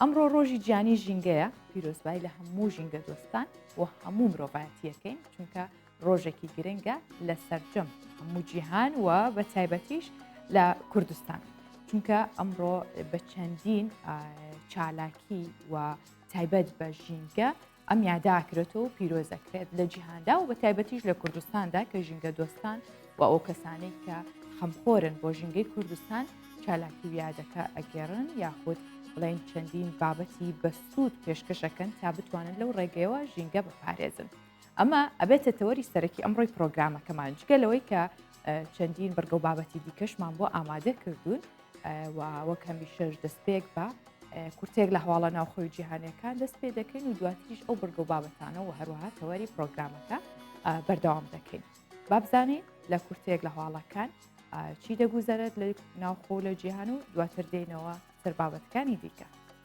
ئەمڕۆ ڕۆژی جیانی ژینگەیە پیرۆزبای لە هەموو ژینگە دۆستان و هەموو مرۆڤایەتیەکەین چونکە ڕۆژێکی گرنگە لە سەرجەم هەموو جیهان و بە تایبەتیش لە کوردستان چونکە ئەمڕۆ بە چەندین چالاکی و تایبەت بە ژینگە ئەم یادە ئاکرێتەوە و پیرۆز دەکرێت لە جیهاندا و بە تایبەتیش لە کوردستاندا کە ژینگە دۆستان و ئەو کەسانەی کە خەمخۆرن بۆ ژینگەی کوردستان چالاکی و یادەکە ئەگەرن یاخود بڵێن چەندین بابەتی بەسوود پێشکەشەکەن تا بتوانن لەو ڕێگەیەوە ژینگە بپارێزن. ئەمە ئەبێتە تەوەری سەرەکی ئەمڕۆی پرۆگرامەکەمان جگە لەوەی کە چەندین بڕگە و بابەتی دیکەشمان بۆ ئامادە کردوون و وەک هەمیشەش دەستپێک بە کورتێک لە هەواڵە ناوخۆی جیهانەکان دەست پێ دەکەین و دواتریش ئەو بڕگە و بابەتانە و هەروەها تەوەری پرۆگرامەکە بەردەوام دەکەین بابزانین لە کورتێک لە هەواڵەکان چی دەگوزەرێت لە ناوخۆ لە جیهان و دواتر دێنەوە سەر بابەتەکانی دیکە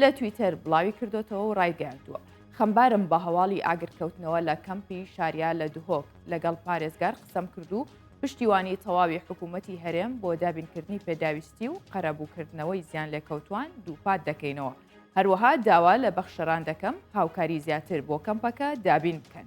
لە تویتەر بڵاویکردۆتەوە و ڕایگەیاندووە، خەمبارم بە هەواڵی ئاگرکەوتنەوە لە کەمپی شاریا لە دهۆک، لەگەڵ پارێزگار قسەم کرد و پشتیوانی تەواوی حکوومەتی هەرێم بۆ دابینکردنی پێداویستی و قەرەبووکردنەوەی زیانلێکەوتووان دووپات دەکەینەوە، هەروەها داوا لە بەخشەران دەکەم هاوکاری زیاتر بۆ کەمپەکە دابین بکەن.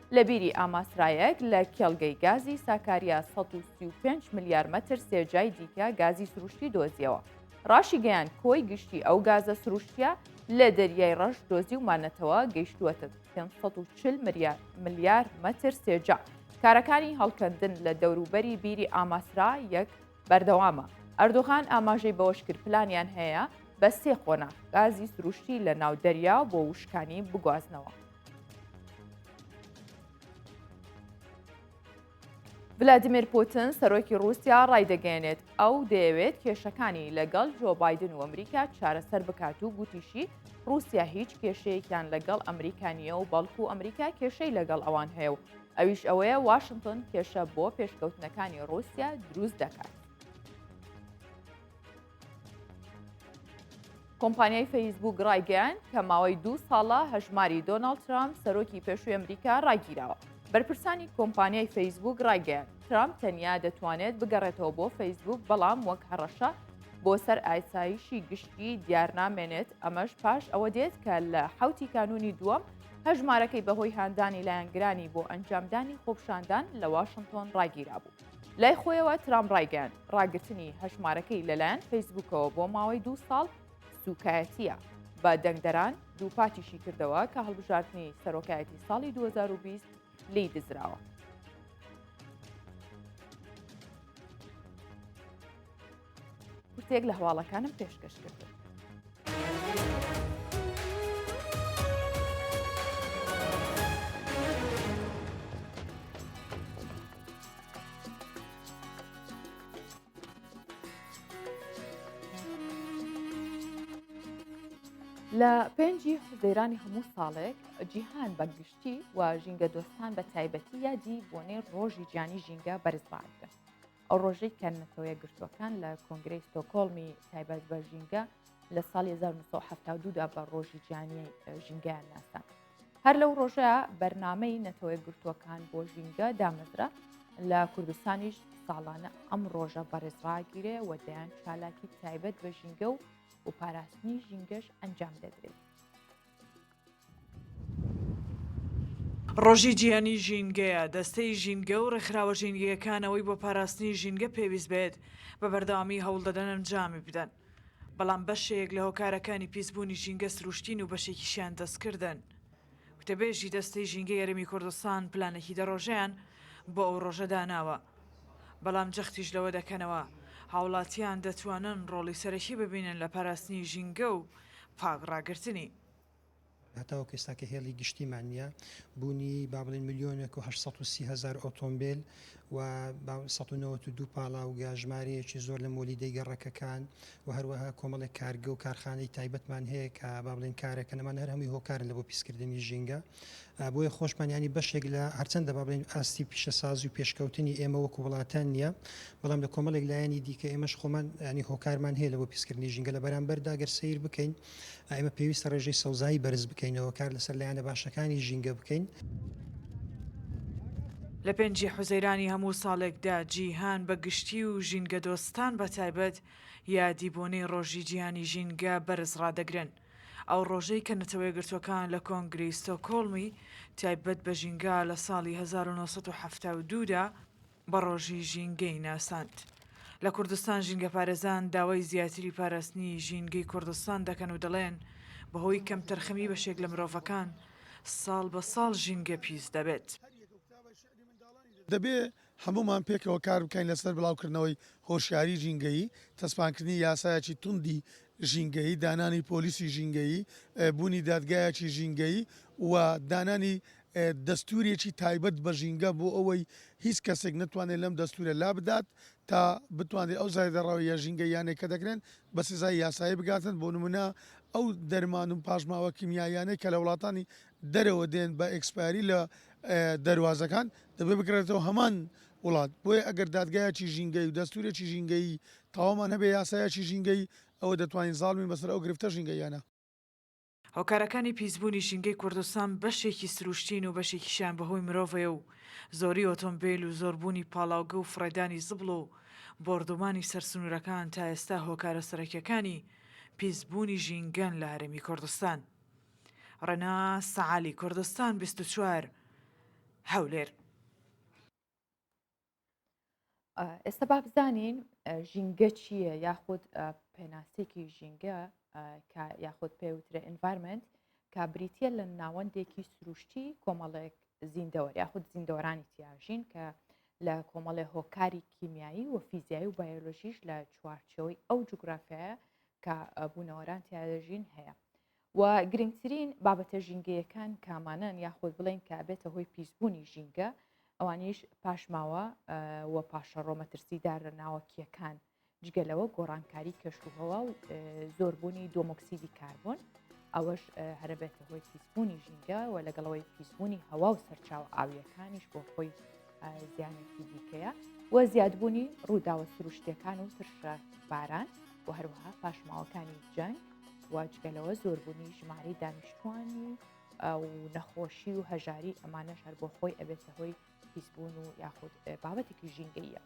لە بیری ئاماسرایەک لە کێڵگەی گازی ساکاریا 135 ملیار مەتر سێجای دیکە گازی سروشتی دۆزیەوە. ڕاشی گەیان کۆی گشتی ئەو گازە سروشتیە لە دەریای ڕەش دۆزی و مانەتەوە گەیشتووەتە 540 ملیار مەتر سێجا. کارەکانی هەڵکەندن لە دەوروبەری بیری ئاماسرا یەک بەردەوامە. ئەردۆغان ئاماژەی بەوەشکرد پلانیان هەیە بە سێ قۆناغ گازی سروشتی لە ناو دەریا بۆ وشکانی بگوازنەوە. ڤلادیمیر پوتن سەرۆکی رووسیا ڕایدەگەێنێت ئەو دەیەوێت کێشەکانی لەگەڵ جۆ بادن و ئەمریکا چارەسەر بکات و گوتیشی رووسیا هیچ کێشەیەکیان لەگەڵ ئەمریکانیە و بەڵکو و ئەمریکا کێشەی لەگەڵ ئەوان هەیە و ئەویش ئەوەیە واشنگتن کێشە بۆ پێشکەوتنەکانی رووسیا دروست دەکات. کۆمپانیای فەیسبوک ڕایگەیان کە ماوەی دوو ساڵە هەژماری دۆناڵد ترامپ سەرۆکی پێشوی ئەمریکا ڕاگیراوە بەرپرسانی کۆمپانیای فەیسبوک ڕایگەیان ترامپ تەنیا دەتوانێت بگەڕێتەوە بۆ فەیسبوک بەڵام وەک هەڕەشە بۆ سەر ئایسایشی گشتی دیارنامێنێت ئەمەش پاش ئەوە دێت کە لە حوتی کانونی دووەم هەژمارەکەی بەهۆی هاندانی لایەنگرانی بۆ ئەنجامدانی خۆپشاندان لە واشنگتۆن ڕاگیرا بوو. لای خۆیەوە ترام ڕایگەیاند ڕاگرتنی هەژمارەکەی لەلایەن فەیسبوکەوە بۆ ماوەی دوو ساڵ سوکایەتیە بە دەنگدەران دووپاتیشی کردەوە کە هەڵبژاردننی سەرۆکایەتی ساڵی 2020 لی دزراوە. کورتێک لە هەواڵەکانم پێشکەش کرد. لە پێنجی حزەیرانی هەموو ساڵێک جیهان بە گشتی و ژینگە دۆستان بە تایبەتی یادی بۆنەی ڕۆژی جیانی ژینگە بەرزبارکە ئەو ڕۆژەی کە نەتەوە یەکگرتووەکان لە کۆنگرەی ستۆکۆڵمی تایبەت بە ژینگە لە ساڵی 1970 دا بە ڕۆژی جیانی ژینگەیان ناسان هەر لەو ڕۆژە بەرنمەی نەتەوەی گرتووەکان بۆ ژینگە دامەزرا لە کوردستانیش ساڵانە ئەم ڕۆژە بەڕێزڕاگیرێ و دەیان چالاکی تایبەت بە ژینگە و و پاراستنی ژینگەش ئەنجام دەدرێت ڕۆژی جیهانی ژینگەیە، دەستەی ژینگە و ڕێکخراوە ژینگەیەکان ئەوەی بۆ پاراستنی ژینگە پێویست بێت بە بەردەوامی هەوڵدەدەن ئەنجامی بدەن، بەڵام بەشێک لە هۆکارەکانی پیسبوونی ژینگە سروشتین و بەشێکیشیان دەستکردن. وتەبێژی دەستەی ژینگەی هەرێمی کوردستان پلانێکی دە ڕۆژەیان بۆ ئەو ڕۆژە داناوە، بەڵام جەختیش لەوە دەکەنەوە هاوڵاتیان دەتوانن ڕۆڵی سەرەکی ببینن لە پاراستنی ژینگە و پاک ڕاگرتنی. هەتاوەکو ئێستا کە هێڵی گشتیمان نییە، بوونی با بڵێن ملیۆنێک و هەشت سەد و سی هەزار ئۆتۆمبێل و با سەد و نەوەد و دوو پاڵاوگە، ژمارەیەکی زۆر لە مۆلیدەی گەڕەکەکان و هەروەها کۆمەڵێک کارگە و کارخانەی تایبەتمان هەیە کە با بڵێن کارەکەن، ئەمانە هەر هەمووی هۆکارن لە بۆ پیسکردنی ژینگە. بۆیە خۆشمان یانی بەشێک لە هەرچەندە با بڵێن ئاستی پیشەسازی و پێشکەوتنی ئێمە وەکو وڵاتان نییە بەڵام لە کۆمەڵێک لایەنی دیکە ئێمەش خۆمان ینی هۆکارمان هەیە لەوە پیسکردنی ژینگە لە بەرامبەردا گەر سیر بکەین ئێمە پێویستە ڕێژەی سەوزایی بەرز بکەینەوە کار لەسەر لایەنە باشەکانی ژینگە بکەین. لە پێنجی حوزەیرانی هەموو ساڵێکدا جیهان بە گشتی و ژینگەدۆستان بە تایبەت یادی بۆنەی ڕۆژی جیهانی ژینگە بەرز ڕادەگرن. ئەو ڕۆژەی کە نەتەوەیەکگرتووەکان لە کۆنگرەی ستۆکۆڵمی تایبەت بە ژینگە لە ساڵی هەزار و نۆ سەد و حەفتا و دوو دا بە ڕۆژی ژینگەی ناساند. لە کوردستان ژینگەپارێزان داوای زیاتری پاراستنی ژینگەی کوردستان دەکەن و دەڵێن، بەهۆی کەمتەرخەمی بەشێک لە مرۆڤەکان، ساڵ بە ساڵ ژینگە پیس دەبێت. دەبێ هەموومان پێکەوە کار بکەین لەسەر بڵاوکردنەوەی هۆشیاری ژینگەیی، تەسپانکردنی یاسایەکی توندی ژینگەیی، دانانی پۆلیسی ژینگەیی، بوونی دادگایەکی ژینگەیی و دانانی دەستوورێکی تایبەت بە ژینگە بۆ ئەوەی هیچ کەسێک نەتوانێت لەم دەستوورە لابدات تا بتوانرێت ئەو زایدەڕەوییە ژینگەییانەی کە دەکرێن بە سزای یاسایی بگاتن بۆ نموونە ئەو دەرمان و پاشماوە کیمیاییانەی کە لە وڵاتانی دەرەوە دێن بە ئێکسپایەری لە دەروازەکان دەبێت بگەڕێتەوە هەمان وڵات بۆیە ئەگەر دادگایەکی ژینگەی و دەستورێکی ژینگەیی تەواومان هەبێ یاسایەکی ژینگەی ئەوە دەتوانین زاڵ بین بەسەر ئەو گرفتە ژینگەییانە. هۆکارەکانی پیسبوونی ژینگەی کوردستان بەشێکی سروشتین و بەشێکیشیان بەهۆی مرۆڤەیە و زۆری ئۆتۆمبێل و زۆربوونی پاڵاوگە و فڕێدانی زبڵ و بۆردومانی سەر سنورەکان تا ئێستا هۆکارە سەرەکیەکانی پیسبوونی ژینگەن لە هەرێمی کوردستان. ڕێناس عەلی کوردستان بیست و چوار هەولێر. ئێستا با بزانین ژینگە چییە یاخود پێناسێکی ژینگە یاخود پێوترە ئینڤارمنت کا بریتە لە ناوەندێکی سروشتی کۆمەڵێک زیندەوە یاخود زیندەوەرانی تیاژین کە لە کۆمەڵێ هۆکاری کیمیایی و فیزیایی و بایۆلۆژیش لە چوارچەوەی ئەو جوگرافایە کە بوونەوەران تیا دەژین هەیە و گرنگترین بابەتە ژینگەیەکان کامانەن یاخود بڵین کە بێتە هۆی پیسبوونی ژینگە ئەوانیش پاشماوە و پاشەڕۆ مەترسیدارە ناوەکیەکان جگەلەوە گۆڕانکاری کەشوهەوە و زۆربوونی دۆمۆکسیدی کاربوون ئەوەش هەرە بێتە هۆی پیسبوونی ژینگە و لەگەڵەوەی پیسبوونی هەوا و سەرچاو ئاویەکانیش بۆ خۆی زیانێکی دیکەیە و زیادبوونی ڕووداوە سروشتەکان و ترشە باران و هەروەها پاشماوەکانی جەنگ واجگەلەوە زۆربوونی ژماری دانیشتوانی و نەخۆشی و هەژاری ئەمانەش هەر بۆ خۆی ئەبێتە هۆی پیسبوون و یاخود بابەتێکی ژینگەیە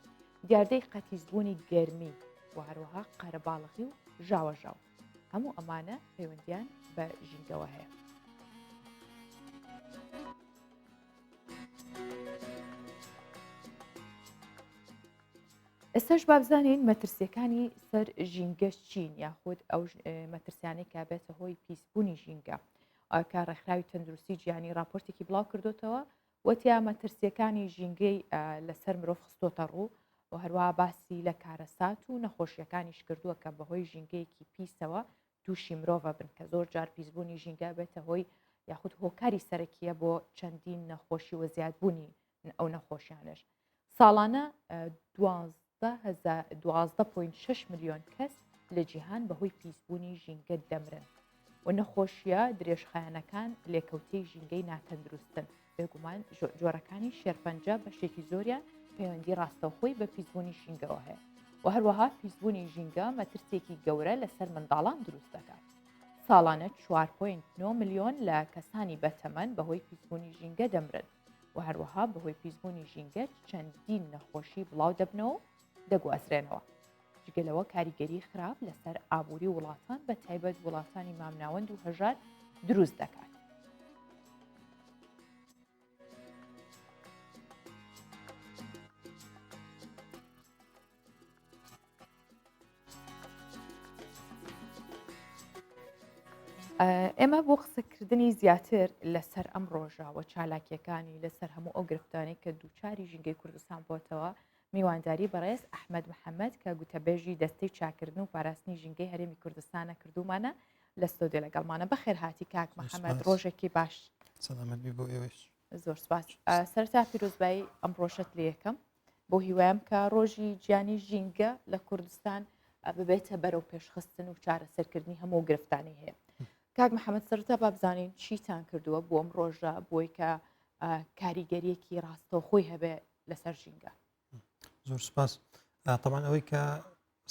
دیاردەی قەتیزبوونی گەرمی و هەروەها قەرەباڵخی و ژاوەژاو هەموو ئەمانە پەیوەندیان بە ژینگەوە هەیە ئێستاش بابزانین مەترسیەکانی سەر ژینگە چین یاخود ئەو مەترسیانەی کا بێتە هۆی پیسبوونی ژینگە کە ڕێکخراوی تەندروستی گیانی راپۆرتێکی بڵاو کردوتەوە وتیا مەترسیەکانی ژینگەی لەسەر مرۆڤ خستۆتە ڕوو و هەروە باسی لە کارەسات و نەخۆشیەکانیش کردووە کە بەهۆی ژینگەیەکی پیسەوە تووشی مرۆڤە بن کە زۆر جار پیسبوونی ژینگە بێتە هۆی یاخود هۆکاری سەرەکیە بۆ چەندین نەخۆشی وە زیادبوونی ئەو نەخۆشیانش ساڵانە دوازدە پوین شش میلیۆن کەس لە جیهان بەهۆی پیسبوونی ژینگە دەمرن و نەخۆشیە درێژخایەنەکان لێکەوتەی ژینگەی ناتەندروستن بێگومان جۆرەکانی شێرپەنجە بەشێکی زۆریان پەیوەندی ڕاستەوخۆی بە پیسبوونی ژینگەوە هەیە و هەروەها پیسبوونی ژینگە مەترسێکی گەورە لەسەر منداڵان دروست دەکات ساڵانە 4.9 میلیۆن لە کەسانی بەتەمەن بەهۆی پیسبوونی ژینگە دەمرن و هەروەها بەهۆی پیسبوونی ژینگە چەندین نەخۆشی بڵاو دەبنەوە دەگوازرێنەوە. جگە لەوە کاریگەری خراپ لەسەر ئابووری وڵاتان بە تایبەت وڵاتانی مامناوەند و هەژار دروست دەکات. ئێمە بۆ قسەکردنی زیاتر لەسەر ئەم ڕۆژاوە چالاکیەکانی لەسەر هەموو ئەو گرفتانی کە دووچاری ژینگەی کوردستان بۆتەوە میوانداری بەڕێز ئەحمەد محەمەد کە گوتەبێژی دەستەی چاکردن و پاراستنی ژینگەی هەرێمی کوردستانە کردومانە لە ستۆدیۆ لەگەڵمانە بەخێر هاتی کاک محەمەد ڕۆژێکی باش زۆر سپاس سەرتا پیرۆزبایی ئەم ڕۆژەت لە یەکەم بۆ هیوایم کە ڕۆژی گیانی ژینگە لە کوردستان ببێتە بەرەو پێشخستن و چارەسەرکردنی هەموو گرفتانی هەیە کاک محەممەد سەرتا بابزانین چیتان کردووە بۆ ئەم ڕۆژە بۆی کە کاریگەریەکی ڕاستەوخۆی هەبێ لەسەر ژینگە زۆر سپاس تەمان ئەوەی کە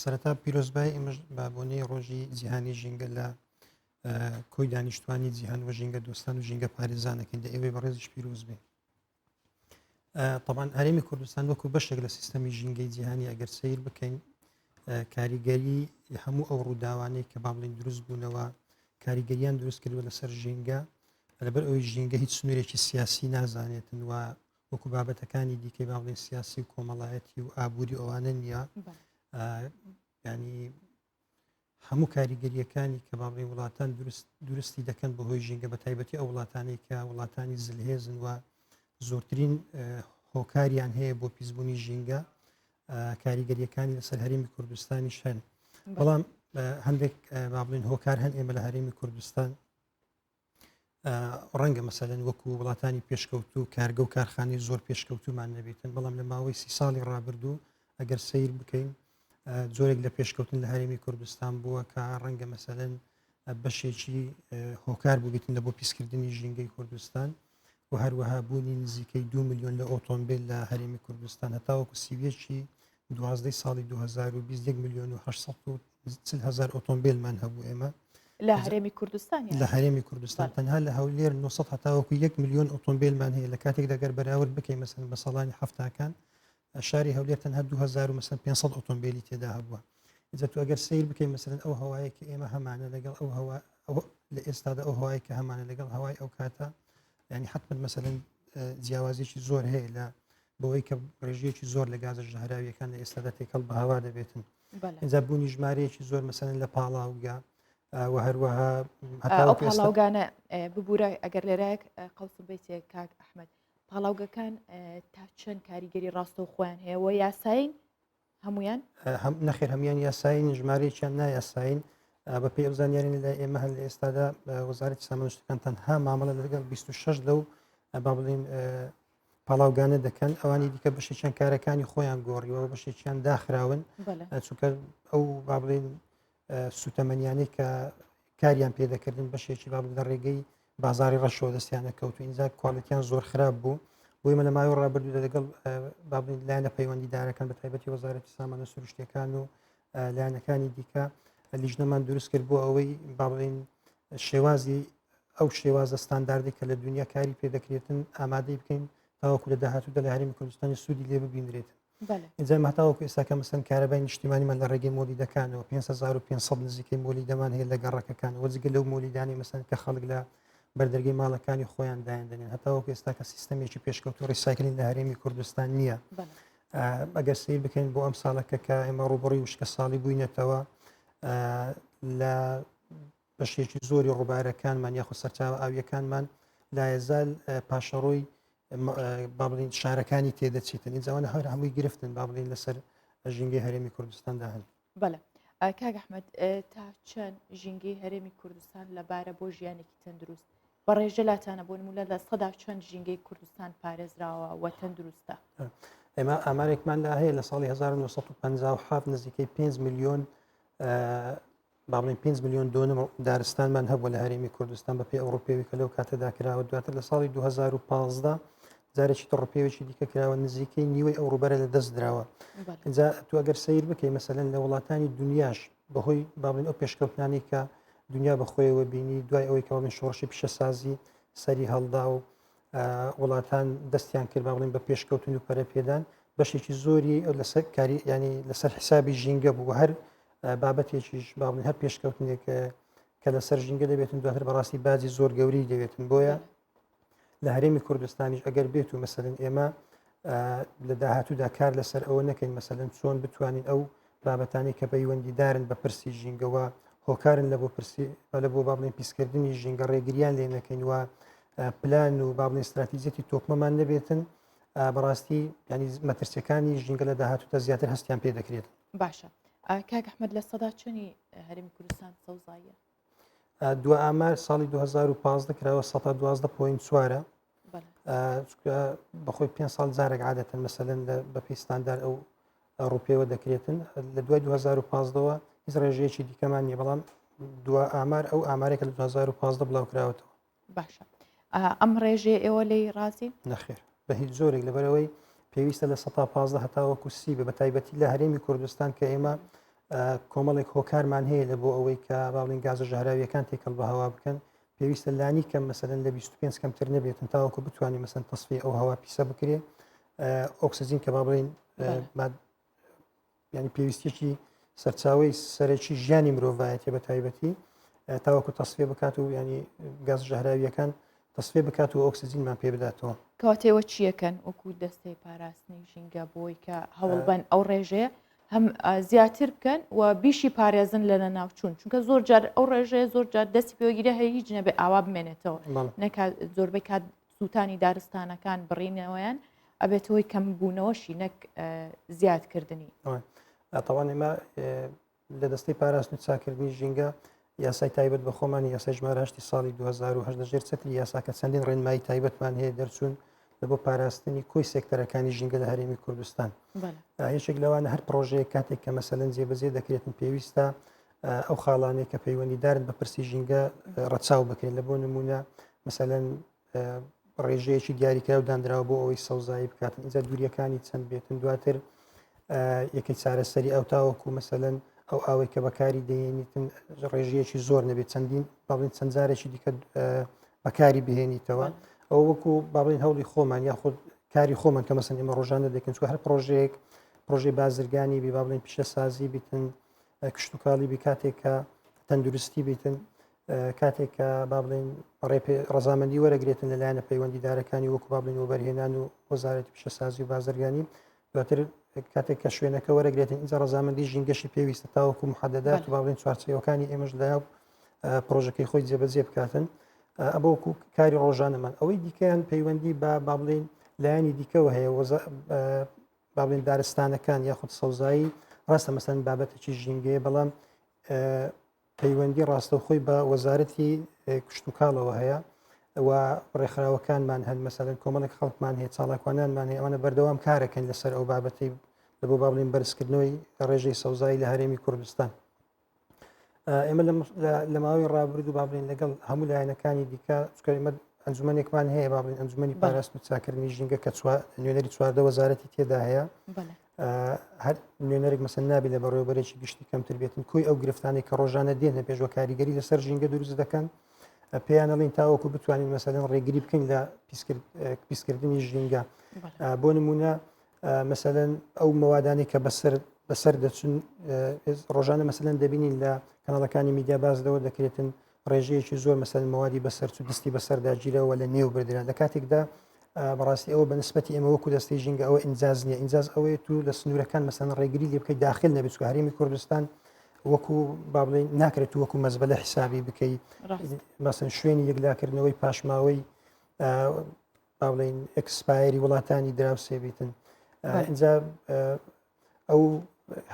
سەرەتا پیرۆزبای ئمەش بابۆنی ڕۆژی جیهانی ژینگە لە کۆی دانیشتوانی جیهان و ژینگە دۆستان و ژینگە پارێزانەکەین دە ئێوەی بەڕێزش پیرۆز بێ طبعاان هەرێمی کوردستان وەکو بەشێک لە سیستەمی ژینگەی جیهانی ئەگەر سیر بکەین کاریگەری هەموو ئەو ڕووداوانەی کە بابلین دروست بوونەوە کاریگەریان دروست کردووە لەسەر ژینگە لەبەر ئەوی ژینگە هیچ سنوورێکی سیاسی نازانێتن و وەکو بابەتەکانی دیکەی باڵێ سیاسی و کۆمەڵایەتی و ئابووری ئەوانە نییە ینی هەموو کاریگەریەکانی کە باڵێ وڵاتان درستی دەکەن بە هۆی ژینگە بە تایبەتی ئەو وڵاتانی کە وڵاتانی زلهێزن و زۆرترین هۆکاریان هەیە بۆ پیسبوونی ژینگە کاریگەریەکانی لەسەر هەرمی کوردستانی شەن بەڵام هەندێک بابلین هۆکار هەن ئێمە لە هەرێمی کوردستان ڕەنگە مەسەلەن وەکو وڵاتانی پێشکەوت و کارگە و کارخانی زۆر پێشکەوتومان نەبێتن بەڵام لە ماوەی سی ساڵی ڕابردوو ئەگەر سیر بکەین زۆرێک لە پێشکەوتن لە هەرێمی کوردستان بووە کە ڕەنگە مەسەلەن بەشێکی هۆکار بووبیتن لە بۆ پیسکردنی ژینگەی کوردستان و هەروەها بوونی نزیکەی دوو ملیۆن لە ئۆتۆمبیل لە هەرێمی کوردستان هەتاوەکو سیویەکی دوازدەی ساڵی 2020 1 ملیۆن و 840 هزار ئۆتۆمبیلمان هەبوو ئێمە لە هەرێمی کوردستان لە هەرێمی کوردستان تەنها لە هەولێر 900 هەتاوەکو 1 ملیۆن ئۆتۆمبیلمان هەیە لە کاتێک دەگەر بەراورد بکەین مەسن بە ساڵانی هەفتاکان شاری هەولێر تەنها دوو هەزار و مەسەن پێنج سەد ئۆتۆمبیلی تێدا هەبووە ئجا تو ئەگەر سیر بکەین مەسەرن ئەو هەوایە کە ئێمە هەمانە لەگەڵ ئەو هەوا لە ئێستادا ئەو هەوای کە هەمانە لەگەڵ هەوای ئەو کاتە ینی حتممە مەسەرن جیاوازێکی زۆر هەیە لە بەوەی کە ڕێژەیەکی زۆر لە گازە ژەهراویەکان لە ئێستادا تێکەڵ بە هەوا دەبێتن ئجا بوونی ژمارەیەکی زۆر مەسەرن لە پاڵاوگە و هەروەها ئەو پاڵاوگانە ببوورە ئەگەر لێرەیەک قەڵسم بیتێک کاک ئەحمد پاڵاوگەکان تا چەند کاریگەری ڕاستە و خۆیان هەیە و یاساین هەمویان نەخێر هەمویان یاساین ژمارەیەکیان نایاساین بە پێ زانیاری لە ئێمە هەن لە ئێستادا وەزارەتی سامانشتەکان تەنها مامەڵە لەگەڵ 26 لەو با بڵین پاڵاوگانە دەکەن ئەوانی دیکە بەشێکیان کارەکانی خۆیان گۆڕیەوە بەشێکیان داخراون چونکە ئەو با بڵین سوتەمەنیانەی کە کاریان پێدەکردن بەشێکی با لە ڕێگەی بازاری ڕەشەوە دەستیان دەکەوت و ئینجا کوالەتیان زۆر خراپ بوو بۆی مە لە ماوەی ڕابردوو لەگەڵ بابنیت لایەنە پەیوەندیدارەکان بە تایبەتی وەزارەتی سامانە سروشتەکان و لایەنەکانی دیکە لیژنەمان دروست کرد بۆ ئەوەی باڵێن شێوازی ئەو شێوازە ستانداردی کە لە دنیا کاری پێدەکرێتن ئامادەی بکەین تاوەکو لە داهاتوودا لە هەرمی کوردستانی سوودی لێ ببینرێتن ئینجام هەتاوەکو ئێستا کە مەسەن کارەبای نیشتیمانیمان لە ڕێگەی مۆلیدەکانەوە 5500 نزیکەی مۆلیدەمان هەیە لە گەڕەکەکانەوە جگە لەو مۆلیدانی مەسەن کە خەڵک لە بەردەرگی ماڵەکانی خۆیان دایان دەنێن هەتاوەکو ئێستا کە سیستەمێکی پێشکەوتو ڕیسایکلین لە هەرێمی کوردستان نییە ئەگەر سیر بکەین بۆ ئەم ساڵەکە کە ئێمە ڕوبڕی وشکە ساڵی بووینەتەوە لە بەشێکی زۆری ڕووبارەکانمان یاخود سەرچاوە ئاویەکانمان لایەزال پاشەڕۆی بابلین شارەکانی تێدەچیتن ئینجاوانە هەر هەمووی گرفتن بابلین لەسەر ژینگەی هەرێمی کوردستاندا هەن بەڵێ کاگەحمد تا چەند ژینگەی هەرێمی کوردستان لەبارە بۆ ژیانێکی تەندروست بەڕێژە لاتانە بۆ نمونە لە سەدا چەند ژینگەی کوردستان پارێزراوە وە تەندروستە ئێمە ئامارێکمان لا هەیە لە ساڵی 1950 نزیکەی 5 میلیۆن با بڵێن پێنج ملیۆن دۆنم و دارستانمان هەبوو لە هەرێمی کوردستان بەپێی ئەو ڕوپێوی کە لەو کاتەدا کراوە دواتر لە ساڵی 2015 جارێکی تە ڕوپێوێکی دیکە کراوە نزیکەی نیوەی ئەو ڕوبەرە لە دەست دراوە بەڵێ. اینجا تو ئەگەر سیر بکەی مەسەلەن لە وڵاتانی دنیاش بەهۆی با بڵێن ئەو پێشکەوتنانەی کە دنیا بەخۆیەوە بینی دوای ئەوەی کە بڵێن شۆڕشی پیشەسازی سەری هەڵدا و آ، وڵاتان دەستیان کرد با بڵێن بە پێشکەوتن و پەرەپێدان بەشێکی زۆری لەسەر کاری ینی لەسەر حسابی ژینگە بوو هەر بابەتێکیش باڵین هەر پێشکەوتنێک کە لەسەر ژینگە دەبێتن دواتر بەڕاستی باجی زۆر گەوری دەبێتن بۆیە لە هەرێمی کوردستانیش ئەگەر بێت و مەسەرن ئێمە لە داهاتوودا کار لەسەر ئەوە نەکەین مەسەرن چۆن بتوانین ئەو بابەتانی کە پەیوەندیدارن بە پرسی ژینگەوە هۆکارن لە بۆ پرسی لە بۆ بابڵێن پیسکردنی ژینگە ڕێگریان لێ نەکەین وە پلان و بابڵێن استراتیزیەتی تۆکمەمان نەبێتن بەڕاستی ینی مەترسیەکانی ژینگە لە داهاتوتە زیاتر هەستیان پێ دەکرێت باشە کاک ئەحمد لە سەدا چنی هەرمی کوردستان سەوزاییە دو ئامار ساڵی 2015 کراوە 112 پوین چوارە بەخۆی پێ ساڵ جارێک عادەتن مەسەن بە پیستاندار ئەو ڕوپێوە دەکرێتن لە دوای 2015ەوە هیچ ڕێژەیەکی دیکەمان نیە بەڵام دو ئامار ئەو ئامارێکە لە 2015 بڵاو کراوەتەوە باشە ئەم ڕێژێ ئێوە لی ڕازی نەخێر بە هیچ زۆرێک لەبەرەوەی پێویستە لە 15 هەتاوەکو سی بە بەتایبەتی لە هەرێمی کوردستان کە ئێمە کۆمەڵێک هۆکارمان هەیە لە بۆ ئەوەی کە باڵین گازە ژەهراویەکان تێکەڵ بە هەوا بکەن پێویستە لانی کەم مەسەن لە 25 کەمتر نەبێتن تاوەکو بتوانین مەسن تەسفی ئەو هەوا پیسە بکرێ ئۆکسسیجین کە با بڵین یعنی پێویستێکی سەرچاوی سەرەکی ژیانی مرۆڤایەتی بە تایبەتی تاوەکو تەسفێ بکات و ینی گەز ژەهراویەکان تەسفێ بکات و ئۆکسسیجینمان پێ بداتەوە کاتێوە چیەکەن وەکو دەستەی پاراستنی ژینگە بۆی کە هەوڵبەن ئەو ڕێژەیە هەم زیاتر بکەن و بیشی پارێزن لەنە ناوچوون چونکە زۆر جار ئەو ڕێژەیە زۆر جار دەستی پێوەگیرە هەیە هیچ نەبێ ئاوا بمێنێتەوە نەکات زۆربەی کات سووتانی دارستانەکان بڕینەوەیان ئەبێت هۆی کەم بوونەوەشی نەک زیادکردنی ئەتەوان ئێمە لە دەستەی پاراست و چاکردنی ژینگە یاسای تایبەت بە خۆمانی یاسای ژماراشتی ساڵی 2010 ژێر چتری یاساکە چەندین ڕێنمایی تایبەتمان هەیە دەرچوون لە بۆ پاراستنی کۆی سێکتەرەکانی ژینگە لە هەرێمی کوردستان یەکێک لەوانە هەر پرۆژەیە کاتێک کە مەسەلەن جێبەجێ دەکرێتن پێویستە ئەو خاڵانەی کە پەیوەندیدارن بە پرسی ژینگە ڕەچاو بکەین لە بۆ نمونە مثلەن ڕێژەیەکی دیاریکراو دانراوە بۆ ئەوەی سەوزایی بکات ئینجا دووریەکانی چەند بێتن دواتر یەکەی چارەسەری ئەو تاوەکو مثلەن ئەو ئاوەی کە بەکاری دەێنیتن ڕێژەیەکی زۆر نەبێت چەندین باڵین چەند جارێکی دیکە بەکاری بهێنیتەوە ئەو وەکو باڵین هەوڵی خۆمان یاخود کاری خۆمان کە مەسن ئمە ڕۆژانە دەکەن چوە هەر پرۆژەیەک پرۆژەی بازرگانی بێ باڵین پیشە سازی بتن کشتتوکاڵی بی کاتێک کە تەندروستی بیتن کاتێک کە با بڵێن ڕزامەندی وەرەگرێتن لەلایەنە پەیوەندیدارەکانی وەکو با بڵین وەبەرهێنان و وەزارەت پیشەسازی و بازرگانی دواتر کاتێک کە شوێنەکە وەرەگرێتن ئینجا ڕزامەندی ژینگەشی پێویستە تاوەکو محەدەدات و با بڵین چوارچەوەکانی ئێمەش لە پرۆژەکەی خۆی جێبەجێ بکاتن ئەبووکو کاری ڕۆژانەمان ئەوەی دیکەیان پەیوەندی بە با بڵین لایەنی دیکەەوە هەیە با بڵێن دارستانەکان یاخود سەوزایی ڕاستە مەسەن بابەتێکی ژینگەیە بەڵام پەیوەندی ڕاستەوخۆی بە وەزارەتی کشتتوکاڵەوە هەیە و ڕێکخراوەکانمان هەن مەسەن کۆمەڵک خەڵکمان هەیە چاڵاکوانانمان هەیە ئەوانە بەردەوام کارەکەن لەسەر ئەو بابەتی لە بۆ باڵین بەرزکردنەوەی ڕێژەی سەوزایی لە هەرێمی کوردستان ئێمە لە ماوەی ڕابرد و بابلین لەگەڵ هەموو لایەنەکانی دیکە چکەمە ئەنجومەنێکمان هەیە بابلین ئەنجومی پاراست و چاکردنی ژینگە کە نوێنەری چواردە وەزارەتی تێدا هەیە هەر نوێنەرێک مەسن نابێت لە بەڕێوەبەرێکی گشتی کەمتر بێتن کۆی ئەو گرفتانی کە ڕۆژانە دێنە پێشوە کاریگەری لەسەر ژینگە دروست دەکەن پێیانەڵین تاوەکو بتوانین مەسەدەن ڕێگری بکەین لە پیسکردنی ژینگە بۆ نمونە مەسەەن ئەو مەوادانی کە بەسەر بەسەر دەچون ڕۆژانە مەسەن دەبینین لە کەناڵەکانی میدیا بازدەوە دەکرێتن ڕێژەیەکی زۆر مەسەر مەوادی بەسەر و دەستی بەسەردا گیرەوە لە نێو بردرا لە کاتێکدا بەڕاستی ئەوە بە نسبەتی ئێمە وەکو دەستی ژینگە ئەوە ئینجاز نیە ئینجاز ئەوەیە تو لە سنوورەکان مەسەن ڕێگری لێ بکەی داخل نەبێت هەرمی کوردستان وەکو بابلین ناکرێت وەکو مەزبە لە حسابی بکەیت مەسن شوێنی یەکلاکردنەوەی پاشماوەی باڵین ئەکسپایری وڵاتانی دراوسێ بیتن ئەجا ئەو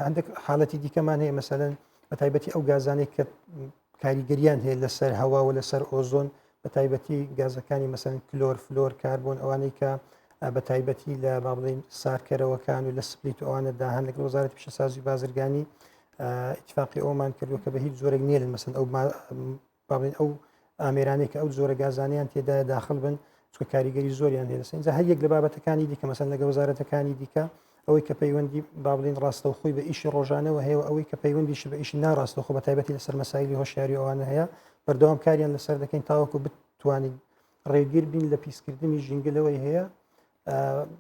هەندێک حاڵەتی دیکەمان هەیە مەسەن بە تایبەتی ئەو گازانێک کە کاریگەریان هەیە لەسەر هەوا و لەسەر ئۆزۆن بە تایبەتی گازەکانی مەسەن کلۆر فلۆر کاربوون ئەوانەی کە بە تایبەتی لە با بڵین سارکەرەوەکان و لە سپلیت ئەوانە داهان لەگەڵ وزارەت پیشەسازی بازرگانی اتفاقی ئەومان کردو کە بە هیچ زۆرێک نیە لە مەسن ئەو با بڵێن ئەو ئامێرانەی کە ئەو جۆرە گازانیان تێدایە داخل بن چکە کاریگەری زۆریان هێنسە جا هەر یەک لە بابەتەکانی دیکە مەسەن لەگە وەزارەتەکانی دیکە ئەوەی کە پەیوەندی با بڵین ڕاستەو خۆی بە ئیشی ڕۆژانەوە هەیە ئەوەی کە پەیوەندیشی بە ئیشی ناڕاستە خۆ بە تایبەتی لەسەر مەسایلی هۆشیاری ئەوانە هەیە بەردەوام کاریان لەسەر دەکەین تاوەکو بتوانین ڕێگیر بین لە پیسکردنی ژینگەلەوەی هەیە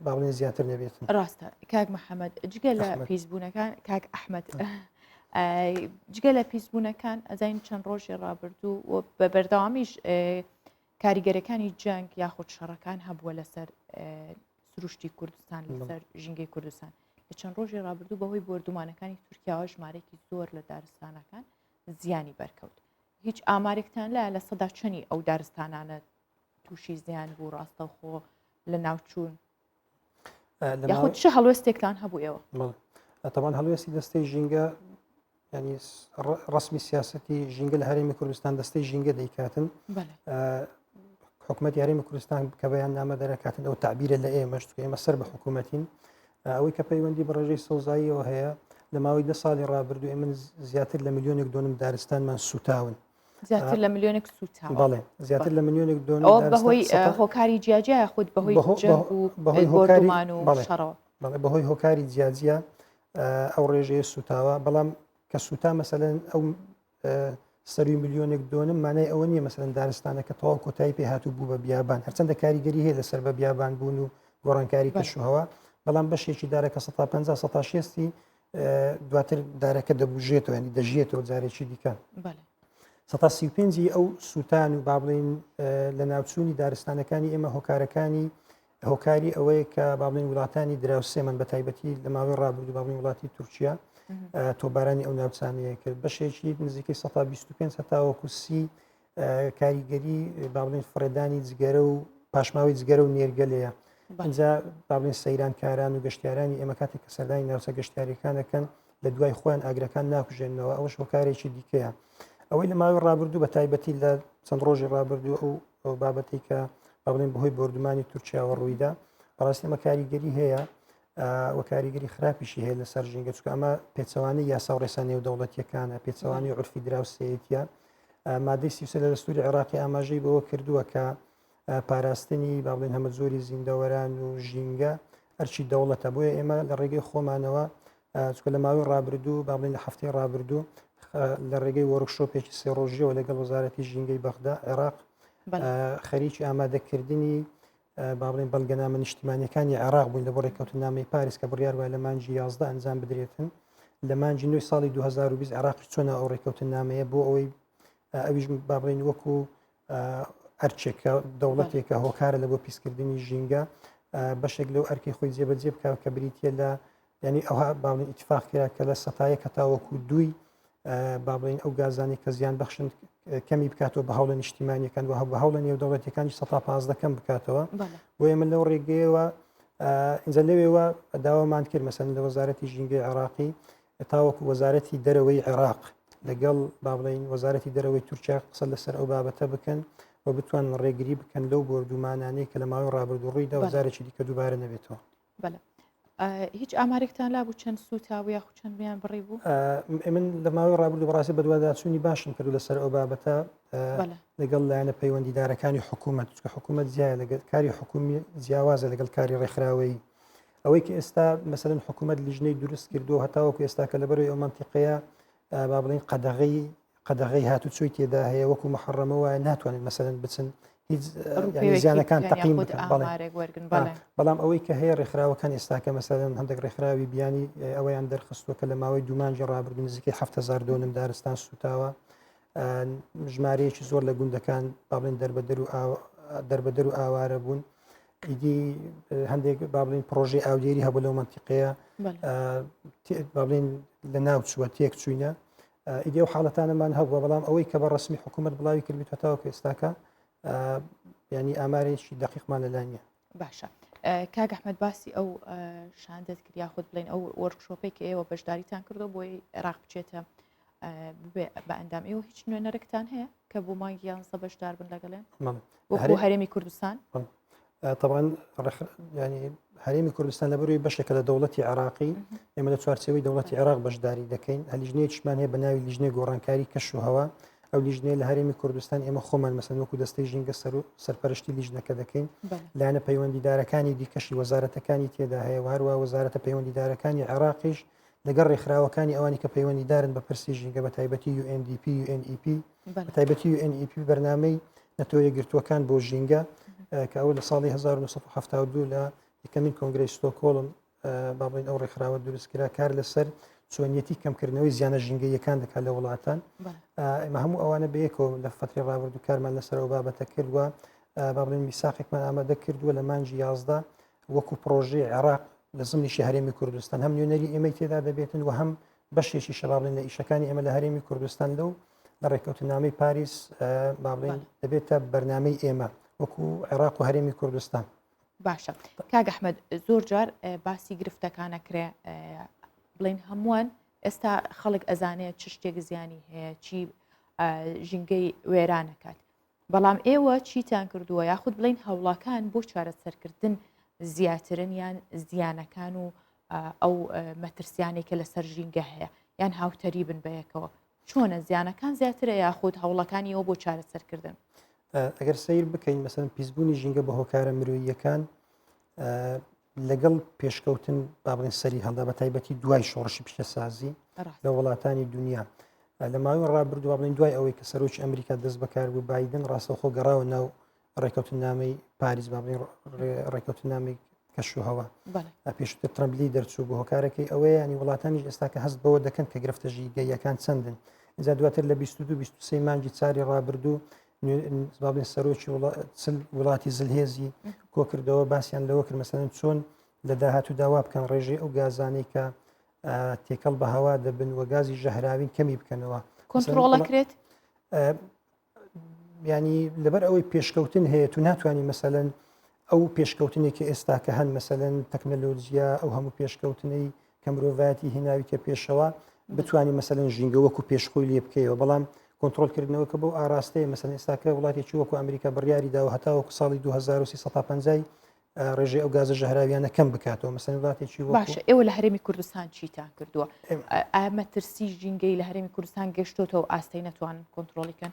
باڵێ زیاتر نەبێت ڕاستە کاک محەممەد جگە لە پیسبوونەکان کاک ئەحمد جگە لە پیسبوونەکان ئەزین چەند ڕۆژی ڕابردوو و بە بەردەوامیش کاریگەرەکانی جەنگ یاخود شەڕەکان هەبووە لەسەر سروشتی کوردستان لەسەر ژینگەی کوردستان لە چەند ڕۆژی ڕابردوو بەهۆی بردومانەکانی تورکیاوە ژمارێکی زۆر لە دارستانەکان زیانی بەرکەوت هیچ ئامارێکتان لە لە سەدا چەنی ئەو دارستانانە تووشی زیان بوو ڕاستەوخۆ لە ناوچوون یاخود چه هەڵوێستێکتان هەبووەوە ئەتەوان هەڵوێستی دەستەی ژینگە ینی ڕسمی سیاستی ژینگە لە هەرێمی کوردستان دەستەی ژینگە دەیکاتن حکوومەت یاریمی کوردستان کە بەیان نامە دەرەکاتن ئەو تعبیرە لە ئێمەش ئێمە سەر بە حکوومەتین ئەوەی کە پەیوەندی بە ڕێژەی سەوزاییەوە هەیە لە ماوەی دە ساڵی ڕابردوو من زیاتر لە میلیۆنێک دۆنم دارستانمان سوتاون زیاتر لە ملیۆنێک سووتا بەڵێ زیاتر لە ملیۆنێک دۆن بەهۆی هۆکاری جیاجیا خودت بەهۆی بەهۆی هۆکارمان و شەڕەوە بەڵێ بەهۆی هۆکاری جیاجیا ئەو ڕێژەیە سووتاوە بەڵام کە سووتا مەسەن ئەو سەروی ملیۆنێک دۆنم مانای ئەوە نیە مەسەن دارستانە کە تەواو کۆتایی پێ هاتوو بوو بە بیابان هەرچەندە کاریگەری هەیە لەسەر بە بیابان بوون و گۆڕانکاری کەشوهوە بەڵام بەشێکی دارە کە 150 16 دواتر دارەکە دەبژێتەوە ینی دەژێتەوە جارێکی دیکە سەتا سی پێنجی ئەو سووتان و با بڵین لە ناوچوونی دارستانەکانی ئێمە هۆکارەکانی هۆکاری ئەوەیە کە باڵین وڵاتانی دراوسێمان بە تایبەتی لە ماوەی ڕابوو باڵین وڵاتی تورکیا تۆبارانی ئەو ناوچانەیە کرد بەشێکی نزیکەی 125 هەتاوەکو سی کاریگەری باڵێن فڕێدانی جگەرە و پاشماوەی جگەرە و نێرگەلەیە بەجا باڵێن سەیرانکاران و گەشتارانی ئێمە کاتێک کە سەردانی ناوچە گەشتارەکانەکەن لە دوای خۆیان ئاگرەکان ناکوژێنەوە ئەوش هۆکارێکی دیکەیە ئەوەی لە ماوەی ڕابردوو بە تایبەتی لە چەند ڕۆژی ڕابردوو ئەو ئەو بابەتی کە بڵێن بەهۆی بردومانی تورکیاوە ڕوویدا بەڕاستی ئەمە کاریگەری هەیە و کاریگەری خراپیشی هەیە لەسەر ژینگە چکە ئەمە پێچوانی یاسا و ڕێسا نێودەوڵەتیەکانە پێچوانی عرفی دراوسەتە مادەی سیسە لە دەستوری عێراقی ئاماژەی بەوە کردووە کە پاراستنی باڵێن هەمە زۆری زیندەوەران و ژینگە ئەرچی دەوڵەتە بۆیە ئێمە لە ڕێگەی خۆمانەوە چکە لە ماوەی ڕابردوو باڵێن لە هەفتەی ڕابردوو لە ڕێگەی وەرکشۆپێکی سێڕۆژیەوە لەگەڵ وەزارەتی ژینگەی بەغدا عێراق خەریکی ئامادەکردنی با بڵێن بەڵگەنامە نیشتیمانیەکانی عێراق بوون لە بۆ ڕێککەوتنامەی پاریس کە بڕیار وای لە مانجی یازدە ئەنجام بدرێتن لە مانجی نوی ساڵی 2020 عێراق چۆنە ئەو ڕێککەوتنامەیە بۆ ئەوەی ئەویش با بڵێن وەکو ئەرچێکە دەوڵەتێکە هۆکارە لە بۆ پیسکردنی ژینگە بەشێک لەو ئەرکی خۆی جێبەجێ بکە کە بریتە لە یعنی ئەوها باڵی ئیتفاق کرا کە لە سەتایە کە تاوەکو دوی با بڵین ئەو گازانی کە زیان بەخشن کەمی بکاتەوە بە هەوڵە نیشتیمانیەکان و هە بە هەوڵە نێو دەوڵەتەکانی سە پازدەکەم بکاتەوە بۆ ئێمە لەو ڕێگەیەوە ئینجا لەوێوە داوامان کرد مەسەن لە وەزارەتی ژینگەی عراقی تاوەکو وەزارەتی دەرەوەی عێراق لەگەڵ با بڵین وەزارەتی دەرەوەی تورکیا قسە لەسەر ئەو بابەتە بکەن و بتوان ڕێگری بکەن لەو بردومانانەی کە لە ماوەی ڕابردوڕووی دەوەزارێکی دیکە دووبارە نەبێتەوە بەڵێ هیچ ئامارێکتان لا بوو چەند سووتا و یاخود چەند بیان بڕی بوو من لە ماوەی ڕابردو بەڕاستی بەدوواداچوونی باشم کردو لەسەر ئەو بابەتە لەگەڵ لایەنە پەیوەندیدارەکانی حکوومەت چکە حکوومەت زیایە لەگەل کاری حکومی جیاوازە لەگەڵ کاری ڕێکخراوەی ئەوەی کە ئێستا مەسەرن حکوومەت لیژنەی دروست کردو هەتاوەکو ئێستا کە لەبەرەوەی ئەو منتیقەیە با بڵین قەدەغی قەدەغی هاتوچۆی تێدا هەیە وەکو محڕەمە وایە ناتوانێت مەسەن بچن هیچ زیانەکان تەقیم بەڵام ئەوەی کە هەیە ڕێکخراوەکان ئێستاکە مەسەدەن هەندێک ڕێکخراوی بیانی ئەویان دەرخستوە کە لە ماوەی دومانجی ڕابرد نزیکەی هزار دۆنم دارستان سوتاوە ژمارەیەکی زۆر لە گوندەکان باڵێن دەربەدەر و دەربەدەر و ئاوارە بوون ئیدی هەندێک بابلین پرۆژی ئاودێری هەبوو لەو منتیقەیە بابلین لە ناوچووە تێک چوینە ئیدی و حاڵەتانەمان هەبووە بەڵام ئەوەی کە بە ڕسمی حکوومەت بڵاوی کردبیت هەتاوەکو ئێستاکە ینی ئامارێکی دقیقمان لەلا نیە باشە کاگەحمد باسی ئەو شاندەت کرد یاخود بڵێن ئەو وەرکشۆپێک ئێوە بەشداریتان کردو بۆی عێراق بچێتە ببێ بە ئەندام ئێوە هیچ نوێنەرکتان هەیە کە بۆ مانگی یانزە بەشدار بن لەگەڵێن وەکو هەرێمی کوردستان طبعاً ینی هەرێمی کوردستان لەبەروی بەشێکە لە دەوڵەتی عراقی ئێمە لە چوارچەوەی دەوڵەتی عراق بەشداری دەکەین ئەلیژنەیە چمان هەیە بە ناوی لیژنەی گۆڕانکاری کەش و هەوا ئەو لیژنەیە لە هەرێمی کوردستان ئێمە خۆمان مەسەن وەکو دەستەی ژینگە سەر و سەرپەرشتی لیژنەکە دەکەین لاەنە پەیوەندیدارەکانی دیکەشی وەزارەتەکانی تێدا هەیە هەروە وەزارەتە پەیوەندیدارەکانی عێراقیش لەگەڵ ڕێکخراوەکانی ئەوانی کە پەیوەندیدارن بە پرسی ژینگە بە تایبەتی UNDP UNEP بە تایبەتی UNEP بەرنمەی نەتۆ یەگرتووەکان بۆ ژینگە کە ئەو لە ساڵی 1970 لە یەکەمین کۆنگری ستۆکۆڵم بابین ئەو ڕێکخراوە دروستکرا کار لەسەر چۆنیەتی کەمکردنەوەی زیانە ژینگەیەکان دەکات لە وڵاتان ئەمە هەموو ئەوانە بەیەکەوە لە فتری ڕابردوو کارمان لەسەرەوە بابەتە کردووە بابلین میساقێکمان ئامادە کردووە لە مانجی یازدە وەکو پرۆژەی عێراق لە زمنیشی هەرێمی کوردستان هەم نوێنەری ئێمەی تێدا دەبێتن و هەم بەشێکی شەبابڵێن لە ئیشەکانی ئێمە لە هەرێمی کوردستان لەو لە ڕێککەوتنامەی پاریس بابڵێن دەبێتە بەرنمەی ئێمە وەکو عێراق و هەرێمی کوردستان باشە کاگەحمد زۆر جار باسی گرفتەکانە کرێ بڵین هەمووان ئێستا خەڵک ئەزانێت چ شتێک زیانی هەیە چی ژینگەی وێرانەکات بەڵام ئێوە چیتان کردووە یاخود بڵین هەوڵاکان بۆ چارەسەرکردن زیاترن یان زیانەکان و ئەو مەترسیانەی کە لەسەر ژینگە هەیە یان هاوتەری بن بەیەکەوە چۆنە زیانەکان زیاترە یاخود هەوڵەکانیەوە بۆ چارەسەرکردن ئەگەر سیر بکەین مەسەن پیسبوونی ژینگە بە هۆکارە مرۆییەکان لەگەڵ پێشکەوتن با بڵێن سەری هەڵدا بە تایبەتی دوای شۆڕشی پیشەسازی لە وڵاتانی دنیا لە ماوەی ڕابردووا بڵین دوای ئەوەی کە سەرۆکی ئەمریکا دەست بەکار بوو بادن ڕاستەخۆ گەڕاوە ناو ڕێکەوتنامەی پاریس با بڵین ڕێکەوتنامی کەشوهوە پێشتر ترمبلی دەرچوو بۆ هۆکارەکەی ئەوەیە ینی وڵاتانی ئێستا کە هەست بەوە دەکەن کە گرفتە ژیگەیەکان چەندن ئجا دواتر لە 22 مانگی چاری ڕابردوو بابێ سەرۆکی وڵاتی زلهێزی کۆکردەوە باسییان لەوە کرد مەسەن چۆن لە داهاتوو داوا بکەن ڕێژەی ئەو گازانەی کە تێکەڵ بە هەوا دەبن و گازی ژەهراوین کەمی بکەنەوە کۆنتترۆڵەکرێت ینی لەبەر ئەوەی پێشکەوتن هەیە تو ناتوانانی مەسەن ئەو پێشکەوتنێکی ئێستا کە هەن مەسەن تەکنەلۆجییا ئەو هەموو پێشکەوتنەی کە مرۆڤایەتی هێناویتە پێشەوە بتانی مەسەن ژینگە وەکو پێشخۆی لێ بکەیەوە بەڵام کۆنتترۆلکردنەوە کە بۆ ئاراستەیە مەسەن ئێستاکە وڵاتێکی وەکو ئەمریکا بڕیاری داوە هەتاوەکو ساڵی 2350 ڕێژەی ئەو گازە ژەهراویانە کەم بکاتەوە مەسەن وڵاتێکی باشە ئێوە لە هەرێمی کوردستان چیتان کردووە ئامە ترسی ژینگەی لە هەرێمی کوردستان گەشتۆتەوە ئاستی نەتوان کۆنتترۆلیکەن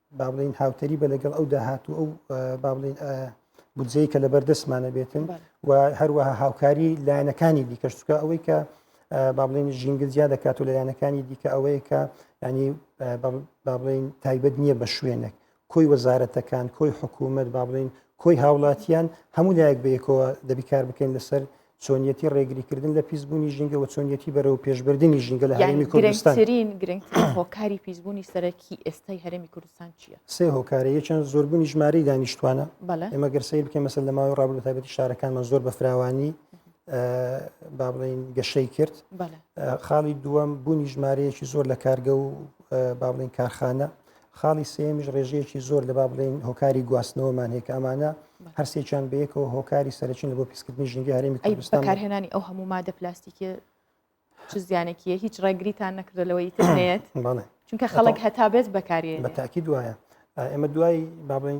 با بڵین هاوتەری بە لەگەڵ ئەو داهات و ئەو با بڵین بودجەی کە لەبەر دەستمانە بێتن و هەروەها هاوکاری لایەنەکانی دیکەش چکە ئەوەی کە با بڵین ژینگە زیاد دەکات و لایەنەکانی دیکە ئەوەیە کە ینی با بڵین تایبەت نییە بە شوێنێک کۆی وەزارەتەکان کۆی حکوومەت با بڵین کۆی هاوڵاتیان هەموو لایەک بەیەکەوە دەبیکار بکەین لەسەر چۆنیەتی ڕێگریکردن لە پیسبوونی ژینگە و چۆنیەتی بەرەو پێشبردننی ژینگە لە هەرمی کوردستانترین گرنگ هۆکاری پیسبوونی سەرەکی ئێستای هەرمی کوردستان چییە سێ هۆکارە یەکیان زۆربوونی ژمارەی دانیشتوانە ئێمە گەرسەی بکە مەسەر لە ماوەی ڕابلو تابەتی شارەکانمان زۆر بە فراوانی با بڵین گەشەی کرد خاڵی دووەم بوونی ژمارەیەکی زۆر لە کارگە و با بڵین کارخانە خاڵی سێیەمیش ڕێژەیەکی زۆر لە با بڵێن هۆکاری گواستنەوەمان هەیە کە ئەمانە هەرسێکیان بەیەکەوە هۆکاری سەرچین لە بۆ پیسکردنی ژینگە هەرێمی کوردستان کارهێنانی ئەو هەموو مادە پلاستیکی چ زیانێکیە هیچ ڕێگریتان نەکردە لەوەی تێت چونکە خەڵک هەتا بێت بەکاری بە تاکی دوایە ئێمە دوای بابڵین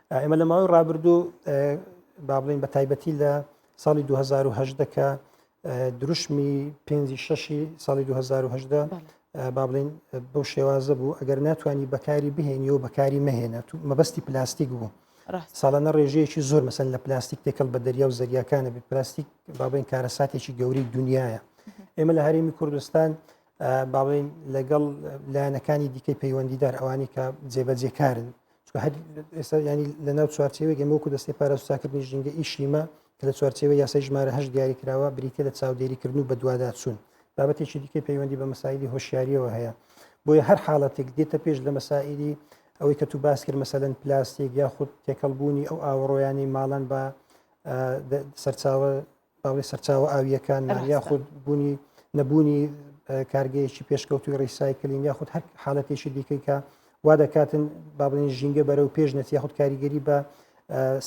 ئێمە لە ماوەی ڕابردوو با بڵین بە تایبەتی لە ساڵی 2010 کە دروشمی پێنجی شەشی ساڵی 2010 با بڵین بەو شێوازە بوو ئەگەر ناتوانانی بەکاری بهێنی و بەکاری مەهێنە تو مەبەستی پلاستیک بوو ساڵانە ڕێژەیەکی زۆر مەسەن لە پلاستیک تێکەڵ بە دەریا و زەریاکانە بێت پلاستیک بابین کارەساتێکی گەوری دنیاە ئێمە لە هەرێمی کوردستان باڵین لەگەڵ لایەنەکانی دیکەی پەیوەندیدار ئەوانی کە جێبەجێکارن ئێستا ینی لە ناو چوارچێوێک ئەمەکو دەستی پاراسوساکردنی ژینگە ئیشیمە کە لە چوارچێوە یاسای ژمارە هەش دیاری کراوە بریتە لە چاودێریکردن و بەدوواداچوون بابەتێکی دیکە پەیوەندی بە مەسایلی هۆشیاریەوە هەیە بۆیە هەر حاڵەتێک دێتە پێش لە مەسائلی ئەوەی کە تو باس کرد مەسەن پلاستێک یاخود تێکەڵبوونی ئەو ئاوەڕۆیانی ماڵەن بە سەرچاوە باڵی سەرچاوە ئاوییەکان یاخود بوونی نەبوونی کارگەیەکی پێشکەوتوی ڕیسایکلین یاخود هەر حالەتێکی دیکەی کە وا دەکاتن بابلین ژینگە بەرە و پێش نەتی یاخود کاریگەری بە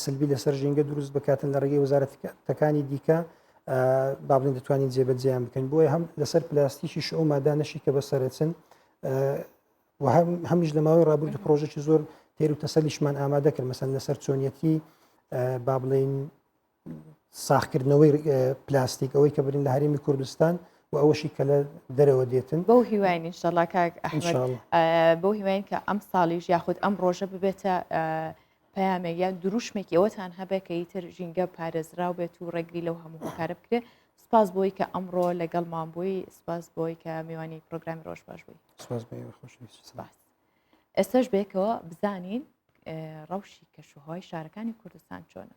سلبی لەسەر ژینگە دروست بکاتن لە ڕێگەی وەزارەتەکانی دیکە بابلین دەتوانین جێبەجیان بکەن بۆیە هەم لەسەر پلاستیکی شەو مادانەشی کە بەسەرچن و هەم هەمیش لە ماوەی ڕابرد پرۆژێکی زۆر تێر و تەسەلیشمان ئامادە کرد مەسەن لەسەر چۆنیەتی با بڵین ساخکردنەوەی پلاستیک ئەوەی کە برین لە هەرمی کوردستان و ئەوەشی کە لە دەرەوە دێتن بەو هیواین انشاءله کاک بەو هیواین کە ئەم ساڵیش یاخود ئەم ڕۆژە ببێتە پامێک یان دروشمێکی ئەوەتان هەبێ کە ئیتر ژینگە پارێزراو بێت و ڕێگری لەو هەموو هۆکارە بکرێت سپاس بۆی کە ئەمڕۆ لەگەڵ مابووی سپاس بۆی کە میوانی پرۆگرامی ڕۆژ باش بووی ئێستش بێکەوە بزانین ڕەوشی کەشوهای شارەکانی کوردستان چۆنە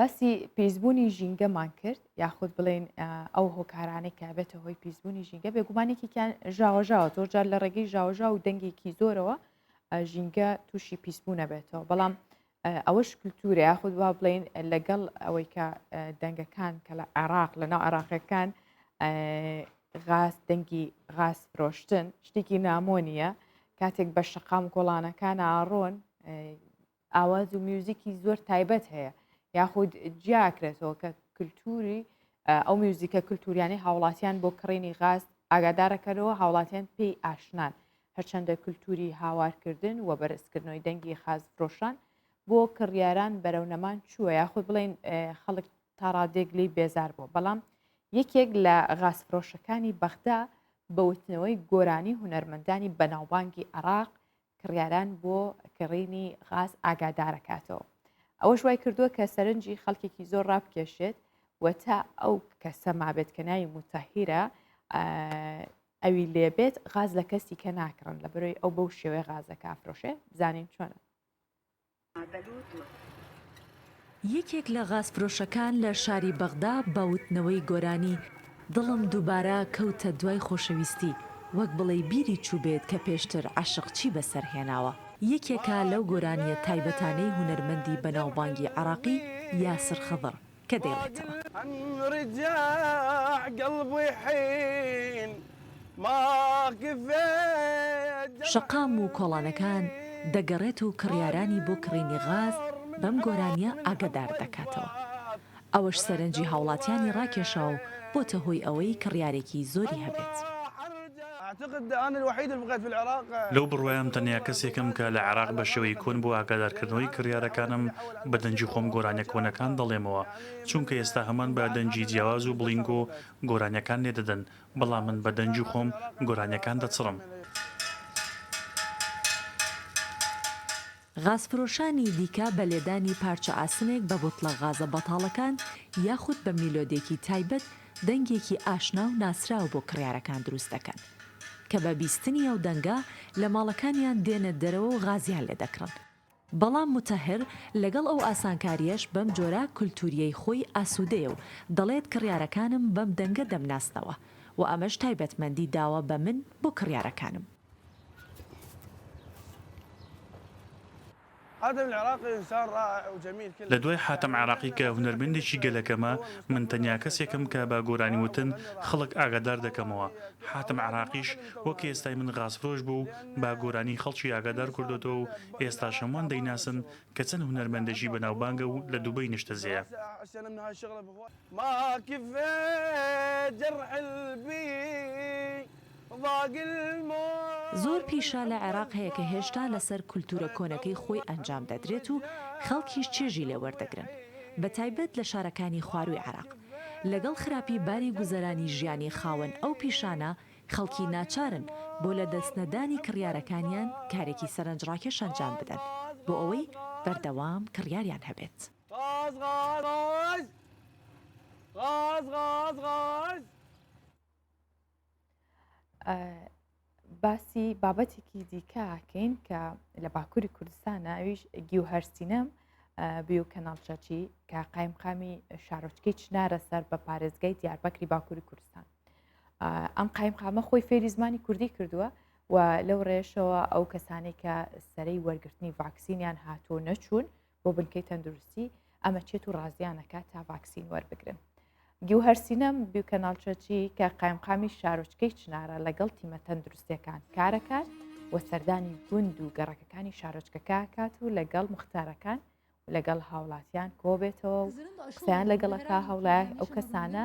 باسی پیسبوونی ژینگەمان کرد یاخود بڵێن ئەو هۆکارانەی کە بێتە هۆی پیسبوونی ژینگە بێگومانێکیان ژاوەژاوە زۆر جار لە ڕێگەی ژاوژا و دەنگێکی زۆرەوە ژینگە تووشی پیسبوونە بێتەوە بەڵام ئەوەش کللتورە یاخود وا بڵین لەگەڵ ئەوەی کە دەنگەکان کە لە عێراق لە ناو عراقەکان غاز دەنگی غاز فرۆشتن شتێکی نامۆنیە کاتێک بە شقام گۆڵانەکان ئاڕۆن ئاواز و میوزیکی زۆر تایبەت هەیە یاخود جیاکرێتەوە کە کللتوری ئەو میوزیکە کللتوریانی هاوڵاتیان بۆ کڕینی غاز ئاگادارەکەەوە هاوڵاتیان پێی ئاشنان هەرچەندە کلتوری هاوارکردن و بەرزکردنەوەی دەنگی خازفرۆشان بۆ کڕیاران بەرەو نەمان چووە یاخود بڵین خەڵک تاڕادێک لی بێزار بوو بەڵام یەکێک لە غازفرۆشەکانی بەغدا بەوتنەوەی گۆرانی هونەرمەندانی بەناوبانگی عراق کڕیاران بۆ کڕینی غاز ئاگادارەکاتەوە ئەوەش وای کردووە کە سەرنجی خەڵکێکی زۆر ڕابکێشێت و تا ئەو کەسە مابێت کە ناوی متەهیرە ئەوی لێ بێت غاز لە کەسی کە ناکڕن لە بەرۆی ئەو بەو شێوەیە غازە کە ئەفرۆشێ بزانین چۆنە. یەکێک لە غازفرۆشەکان لە شاری بەغدا بە وتنەوەی گۆرانی دڵم دووبارە کەوتە دوای خۆشەویستی وەک بڵێی بیری چووبێت کە پێشتر عەشق چی بەسەر هێناوە یەکێکە لەو گۆرانیە تایبەتانەی هونەرمەندی بەناوبانگی عێڕاقی یاسر خضر کە دەیڵێتەوە. شەقام و کۆڵانەکان دەگەڕێت و کڕیارانی بۆ کڕینی غاز بەم گۆرانییە ئاگەدار دەکاتەوە. ئەوەش سەرنجی هاوڵاتیانی ڕاکێشا و بۆتە هۆی ئەوەی کڕیارێکی زۆری هەبێت. لەو بڕوایەم تەنیا کەسێکم کە لە عێراق بە شێوەی کۆن بۆ ئاگادارکردنەوەی کڕیارەکانم بە دەنگی خۆم گۆرانیە کۆنەکان دەڵێمەوە چونکە ئێستا هەموان بە دەنگی جیاواز و بڵینگۆ گۆرانیەکان لێ دەدەن بەڵام من بە دەنگی خۆم گۆرانیەکان دەچڕم. غازفرۆشانی دیکە بە لێدانی پارچە ئاسنێک بە بوتڵە غازە بەتاڵەکان یاخود بە میلۆدێکی تایبەت دەنگێکی ئاشنا و ناسراو بۆ کڕیارەکان دروست دەکەن کە بە بیستنی ئەو دەنگە لە ماڵەکانیان دێنە دەرەوە و غازیان لێ دەکڕن. بەڵام موتەهر لەگەڵ ئەو ئاسانکارییەش بەم جۆرە کولتوورییەی خۆی ئاسوودەیە و دەڵێت کڕیارەکانم بەم دەنگە دەمناسنەوە و ئەمەش تایبەتمەندی داوە بە من بۆ کڕیارەکانم. لە دوای حاتەم عێراقی کە هونەرمەندێکی گەلەکەمە، من تەنیا کەسێکم کە بە گۆرانی وتن خەڵک ئاگادار دەکەمەوە. حاتەم عێراقیش وەک ئێستای من غازفرۆش بوو و بە گۆرانی خەڵکی ئاگادار کردۆتەوە و ئێستاش هەمووان دەیناسن کە چەند هونەرمەندێکی بەناوبانگە و لە دوبەی نیشتەجێیە. زۆر پیشە لە عێراق هەیە کە هێشتا لەسەر کولتوورە کۆنەکەی خۆی ئەنجام دەدرێت و خەڵکیش چێژی لێ وەردەگرن، بە تایبەت لە شارەکانی خوارووی عێراق. لەگەڵ خراپی باری گوزەرانی ژیانی خاوەن ئەو پیشانە، خەڵکی ناچارن بۆ لەدەستنەدانی کڕیارەکانیان کارێکی سەرنجڕاکێش ئەنجام بدەن بۆ ئەوەی بەردەوام کڕیاریان هەبێت. باسی بابەتێکی دیکەکەین کە لە باکووری کوردستانە ئەویش گیو هەرسینەم بیو کەناڵچەچی کە قایمقامی شارۆچکەی چنارە سەر بە پارێزگای دیاربەکری باکووری کوردستان ئەم قایمقامە خۆی فێری زمانی کوردی کردووە و لەو ڕێشەوە ئەو کەسانی کە سەرەی وەرگرتنی ڤاکسینیان هاتوو نەچوون بۆ بنکەی تەندروستی ئەمە چێت و ڕازیانەکە تا ڤاکسین وەربگرن گیوهرسینەم بیوکەناڵچەچی کە قایمقامی شارۆچکەی چنارە لەگەڵ تیمە تەندروستەکان کارەکان و سەردانی گوند و گەڕەکەکانی شارۆچکەکە کات و لەگەڵ مختارەکان لەگەڵ هاوڵاتیان کۆبێتەوە و قسەیان لەگەڵەکە هەوڵای ئەو کەسانە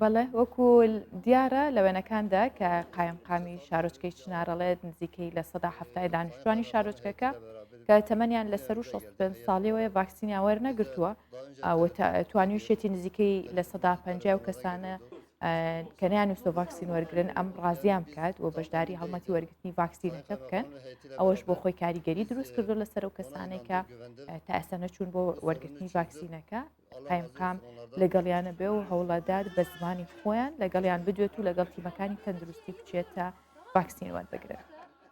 بەڵێ وەکو دیارە لە وێنەکاندا کە قایمقامی شارۆچکەی چنارەڵێت نزیکەی لە سەدا هەفتای دانیشتوانی شارۆچکەکە کە تەمەنیان لە سەر و 65 ساڵیەوەی ڤاکسینیان وەرنەگرتووە توانیوشێتی نزیکەی لە سەدا پ و کەسانە کە نیانویستۆ ڤاکسین وەرگن ئەم ڕازیان بکات و بەشداری هەڵمەتی وەرگرتنی ڤاکسینەکە بکەن ئەوەش بۆ خۆی کاریگەری دروست کردو لەسەر و کەسانێکە تا ئێستا نەچوون بۆ وەرگرتنی ڤاکسینەکە قایمقام لەگەڵیانە بێ و هەوڵەدار بە زمانی خۆیان لەگەڵیان بدوێت و لەگەڵ تیمەکانی تەندروستی بچێتە ڤاکسین وەربگرن.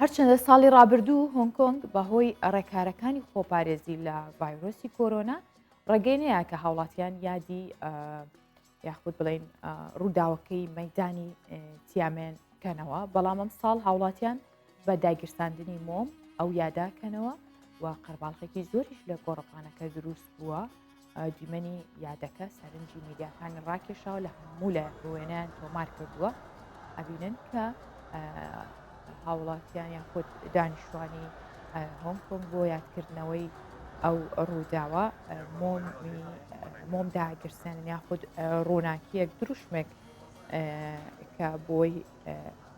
هەرچەندە ساڵی ڕابردوو هۆنگ کۆنگ بەهۆی ڕێکارەکانی خۆپارێزی لە ڤایرۆسی کۆرۆنا ڕێگەی نەیە کە هاوڵاتیان یادی یاخود بڵین ڕووداوەکەی مەدانی تیامێن کەنەوە بەڵام ئەم ساڵ هاوڵاتیان بە داگیرساندنی مۆم ئەو یاداکەنەوە و قەرباڵخێکی زۆریش لە گۆڕپانەکە دروست بووە دیمەنی یادەکە سەرنجی میدیاکانی ڕاکێشاوە لە هەموو لە وێنیان تۆمار کردووە ئەبینن کە هاوڵاتیان یان خۆت دانیشتوانی هۆنگ کۆنگ بۆ یادکردنەوەی ئەو ڕووداوە مۆم داگرسێن یاخود ڕووناکیەک دروشمێک کە بۆی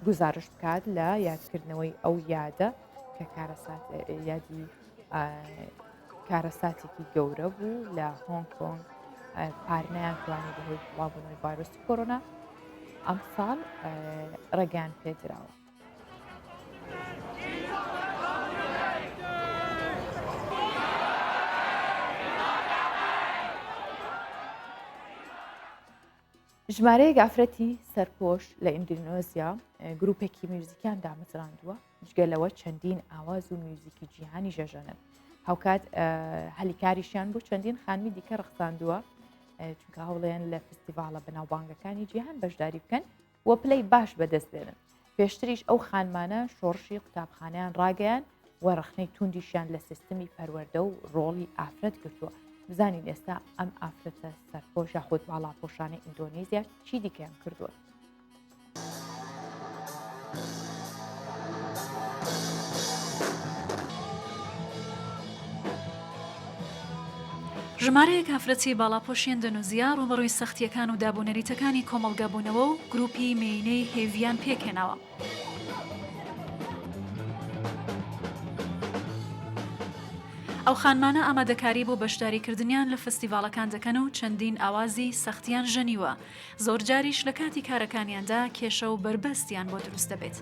گزارش بکات لە یادکردنەوەی ئەو یادە کە کارەسات یادی کارەساتێکی گەورە بوو لە هۆنگ کۆنگ پارنیان توانی بەهۆی بڵاوبوونەوەی ڤایرۆسی کۆرۆنا ئەم ساڵ ڕێگەیان پێدراوە ژمارەیەک ئافرەتی سەرپۆش لە ئیندونۆزیا گرروپێکی میوزیکیان دامەزراندووە جگە لەوە چەندین ئاواز و میوزیکی جیهانی ژەژەنن هاوکات هەلیکاریشیان بۆ چەندین خانمی دیکە ڕخساندووە چونکە هەوڵێن لە فستیڤالە بەناوبانگەکانی جیهان بەشداری بکەن و پلەی باش بەدەست بێنن پێشتریش ئەو خانمانە شۆڕشی قوتابخانیان ڕاگەیان و ڕخنەی توندیشیان لە سیستمی پەروەەردە و ڕۆڵی ئافرەت گرتووە بزانین ئێستا ئەم ئافرەتە سەرپۆشە خۆت باڵاپۆشانە ئیندۆنیزیا چی دیکەیان کردووە ژمارەیەک ئافرەتی باڵاپۆشی ئەندەنوزیا ڕووبەڕووی سەختییەکان و دابونەریتەکانی کۆمەڵگە بوونەوە و گروپی مێینەی هێڤیان پێکهێناوە. ئەو خانمانە ئامادەکاری بۆ بەشداریکردنیان لە فستیڤاڵەکان دەکەن و چەندین ئاوازی سەختیان ژەنیوە، زۆرجاریش لە کاتی کارەکانیاندا کێشە و بەربەستیان بۆ دروست دەبێت.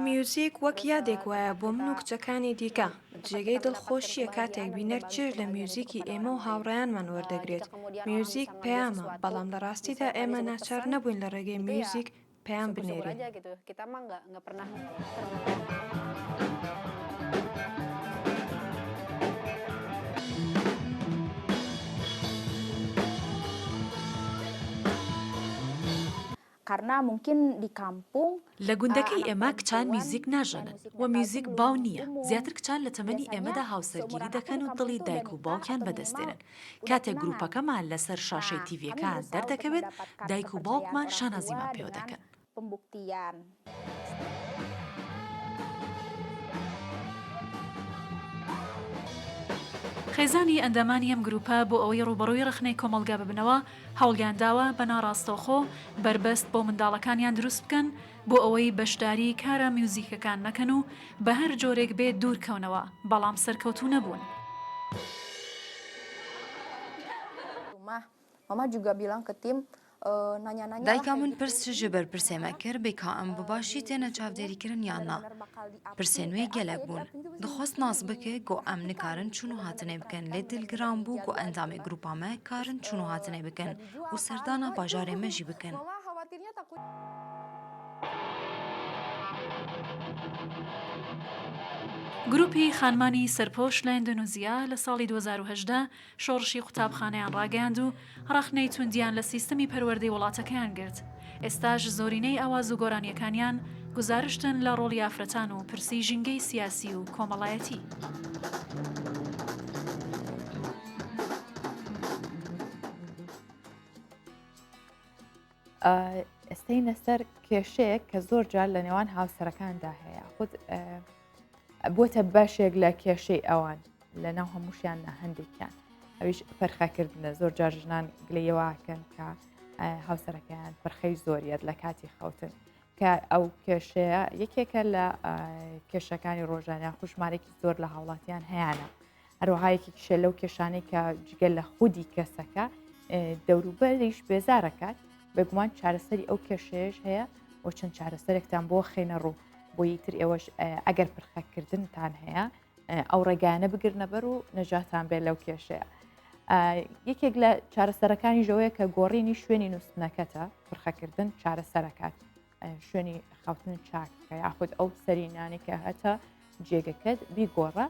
میوزیک وەک یادێک وایە بۆ من و کچەکانی دیکە، جێگەی دڵخۆشییە کاتێک بینەر چێژ لە میوزیکی ئێمە و هاوڕێیانمان وەردەگرێت، میوزیک پەیامە، بەڵام لە ڕاستیدا ئێمە ناچار نەبووین لە ڕێگەی میوزیک پەیام بنێرین. قەرنا مومکین دی کامپووم. لە گوندەکەی ئێمە کچان میوزیک ناژەنن و میوزیک باو نییە، زیاتر کچان لە تەمەنی ئێمەدا هاوسەرگیری دەکەن و دڵی دایک و باوکیان بەدەست دێنن، کاتێک گروپەکەمان لەسەر شاشەی تیڤیەکان دەردەکەوێت دایک و باوکمان شانازیمان پێوە دەکەن. خێزانی ئەندامانی ئەم گروپە بۆ ئەوەی ڕووبەڕووی ڕەخنەی کۆمەڵگا ببنەوە، هەوڵیان داوە بە ناڕاستەوخۆ بەربەست بۆ منداڵەکانیان دروست بکەن بۆ ئەوەی بەشداری کارە میوزیکەکان نەکەن و بە هەر جۆرێک بێت دوور کەونەوە، بەڵام سەرکەوتوو نەبوون. دایکا من پرس جی بر پرسێمە کر بکا ام بباشی تێنە چاودێریکرن یان نا. پرسێ نوێ گەلەک بوون دخواست ناز بکێ گۆ ئەم نکارن چون و هاتنێ بکەن لێ دل گران بوو گۆ ئەندامێ گروپا مە کارن چون و هاتنێ بکەن و سەردانا باژارێ مە ژی بکەن. گروپی خانمانی سەرپۆش لە ئیندۆنیزیا لە ساڵی دوو هەزار و هەژدە شۆڕشی قوتابخانەیان ڕاگەیاند و ڕەخنەی توندیان لە سیستمی پەروەردەی وڵاتەکەیان گرت. ئێستاش زۆرینەی ئاواز و گۆرانیەکانیان گوزارشتن لە ڕۆڵی ئافرەتان و پرسی ژینگەی سیاسی و کۆمەڵایەتی. بووەتە بەشێک لە کێشەی ئەوان لە ناو هەمووشیان نە هەندێکیان ئەویش پەرخەکردنە زۆر جار ژنان گلەیەوەکەن کە هاوسەرەکەیان پرخەی زۆریت لە کاتی خەوتن کە ئەو کێشەیە یەکێکە لە کێشەکانی ڕۆژانیان خوشمارێکی زۆر لە هاوڵاتیان هەیەە هەروەها یەکێکیشە لەو کێشانەی کە جگە لە خودی کەسەکە دەوروبەریش بێزارەکات بەگومان چارەسەری ئەو کێشەیەش هەیە و چەند چارەسەرێکتان بۆ خێنە ڕوو بۆی تر ئێوەش ئەگەر پرخەکردنتان هەیە ئەو ڕێگانە بگرنەبەر و نەجاتان بێت لەو کێشەیە. یەکێک لە چارەسەرەکانی ژەوەیە کە گۆڕینی شوێنی نووسنەکەتە پرخەکردن چارەسەرەکات شوێنی خەوتن چاکەکە یاخود ئەو سەری نانێکە هەتا جێگەکەت بیگۆڕە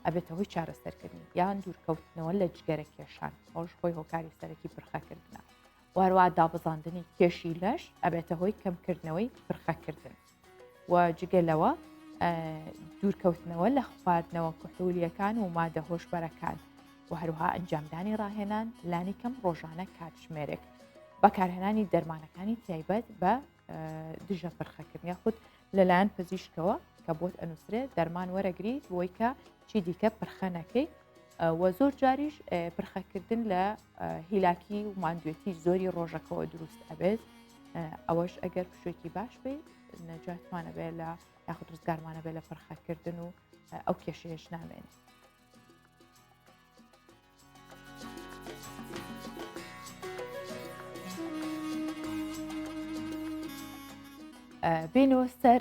ئەبێتە هۆی چارەسەرکردنی یان دوورکەوتنەوە لە جگەرە کێشان ئەوش خۆی هۆکاری سەرەکی پرخەکردە واروا دابزاندنی کێشی لەش ئەبێتە هۆی کەمکردنەوەی پرخەکردن و جگەلەوە دوورکەوتنەوە لە خواردنەوە کحولیەکان و مادە هۆشبەرەکان و هەروها ئەنجامدانی ڕاهێنان لانی کەم ڕۆژانە کاتژمێرێک بەکارهێنانی دەرمانەکانی تایبەت بە دژە پرخەکرد یاخود لەلایەن پزیشکەوە کە بۆت ئەنووسرێت دەرمان وەرەگریت بۆی کە چی دیکە پرخەنەکەی وە زۆر جاریش پرخەکردن لە هیلاکی و ماندوێتی زۆری ڕۆژەکەەوە دروست ئەبێت ئەوەش ئەگەر پشێکی باش بێ نەجاتمانەبێ لە یاخود ڕزگارمانەبێ لە پرخەکردن و ئەو کێشەیەش نامێنێت بینۆ سەر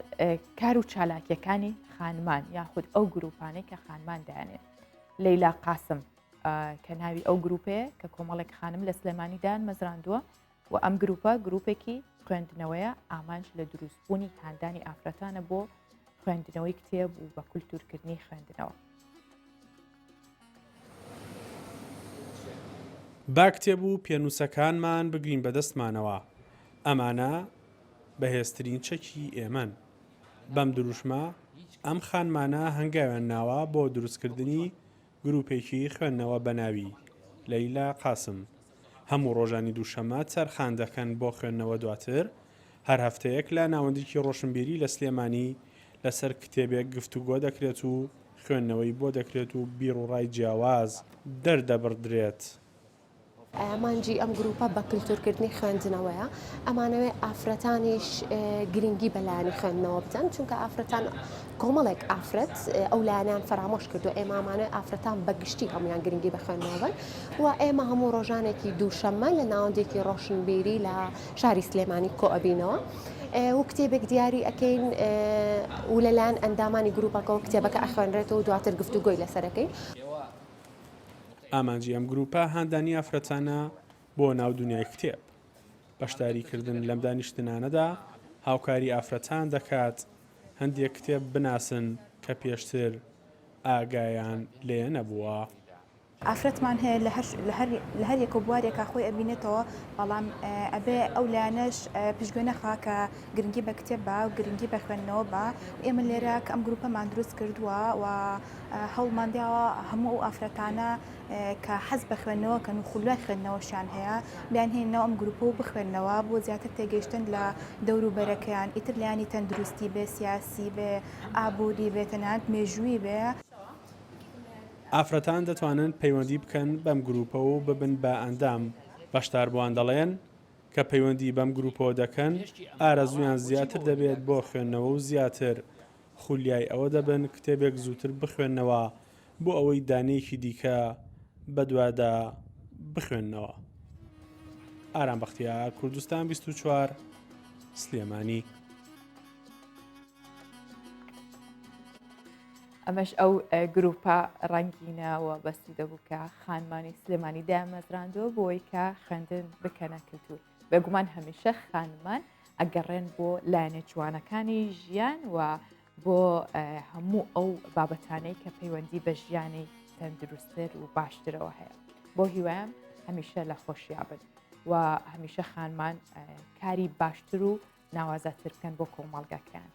کار و چالاکیەکانی خانمان یاخود ئەو گروپانەی کە خانمان دایانێت لەیلا قاسم کە ناوی ئەو گروپەیە کە کۆمەڵێک خانم لە سلێمانیدان مەزراندووە وە ئەم گروپە گروپێکی خوێندنەوەیە ئامانج لە دروست بوونی هاندانی ئافرەتانە بۆ خوێندنەوەی کتێب و بە کولتورکردنی خوێندنەوە. با کتێب و پێنووسەکانمان بگرین بەدەستمانەوە، ئەمانە بەهێزترین چەکی ئێمەن. بەم دروشمە ئەم خانمانە هەنگاویان ناوە بۆ دروستکردنی گروپێکی خوێندنەوە بە ناوی، لەیلا قاسم، هەموو ڕۆژانی دووشەمە تەرخان دەکەن بۆ خوێندنەوە دواتر هەر هەفتەیەک لە ناوەندیکی ڕۆشنبیری لە سلێمانی لەسەر کتێبێک گفتوگۆ دەکرێت و خوێندنەوەی بۆ دەکرێت و بیروڕای جیاواز دەردەبڕدرێت ئامانجی ئەم گرووپە بە کلتورکردنی خوێندنەوەیە ئەمانەوێت ئافرەتانیش گرنگی بە لایەنی خوێندنەوە بدەن چونکە ئافرەتان کۆمەڵێک ئافرەت ئەو لایەنان فەرامۆش کردو ئێمامانە ئافرەتان بەگشتی هەمویان گرنگی بە خوێندنەوەن و ئێمە هەموو ڕۆژانێکی دووشەممە لە ناوەندێکی ڕۆشنبیری لە شاری سلێمانی کۆئبینەوە. و کتێبێک دیاری ئەەکەین و لەلایەن ئەندامانی گروپەکەەوە کتێبەکە ئەخوێنرێتەوە دواتر گفتوگۆی لەسەرەکەی. ئامانجی ئەم گروپە هاندانی ئافرەتانە بۆ ناو دنیای کتێب. بەشداریکردن لەم دانیشتنانەدا هاوکاری ئافرەتان دەکات هەندێک کتێب بناسن کە پێشتر ئاگایان لێ نەبووە. ئافرەتمان هەیە لە هەر یەکە و بوارێکا خۆی ئەبینێتەوە، بەڵام ئەبێ ئەو لایەنەش پشتگوێ نەخا کە گرنگی بە کتێب بە و گرنگی بە خوێندنەوە بە و ئێمە لێرە کە ئەم گروپەمان دروست کردووە و هەوڵمان داوە هەموو ئەو ئافرەتانە کە حەز بە خوێندنەوە کە نوخولای خوێندنەوەشیان هەیە بیان هێنەوە ئەم گروپە و بخوێندنەوە بۆ زیاتر تێگەیشتن لە دەوروبەرەکەیان ئیتر لایانی تەندروستی بێ سیاسی بێ ئابووری بێ تەنانەت مێژووی بێ. ئافرەتان دەتوانن پەیوەندی بکەن بەم گروپە و ببن بە ئەندام. بەشداربووان دەڵێن، کە پەیوەندی بەم گروپەوە دەکەن ئارەزوویان زیاتر دەبێت بۆ خوێندنەوە و زیاتر خولیای ئەوە دەبن کتێبێک زووتر بخوێننەوە بۆ ئەوەی دانەیەکی دیکە بەدوادا بخوێننەوە. ئارام بەختیار، کوردستان بیست و چوار، سلێمانی. ئەمەش ئەو گروپە ڕەنگینە و بەستی دەبوو کە خانمانی سلێمانی دامەزراندووە بۆی کە خوێندن بکەنە کللتور بێگومان هەمیشە خانمان ئەگەڕێن بۆ لایەنە جوانەکانی ژیان و بۆ هەموو ئەو بابەتانەی کە پەیوەندی بە ژیانی تەندروستتر و باشترەوە هەیە بۆ هیوایم هەمیشە لە خۆشیابن و هەمیشە خانمان کاری باشتر و ناوازەتر بکەن بۆ کۆمەڵگەکەیان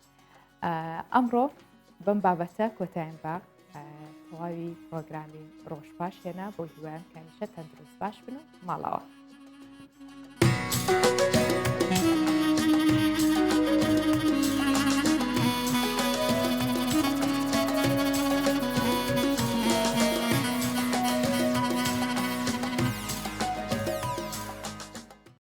ئەمڕۆ بەم بابەتە کۆتایان بە تەواوی پرۆگرامی ڕۆژ باش هێنا بۆ هیوایان کەمیشە تەندروست باش بن و ماڵەوە.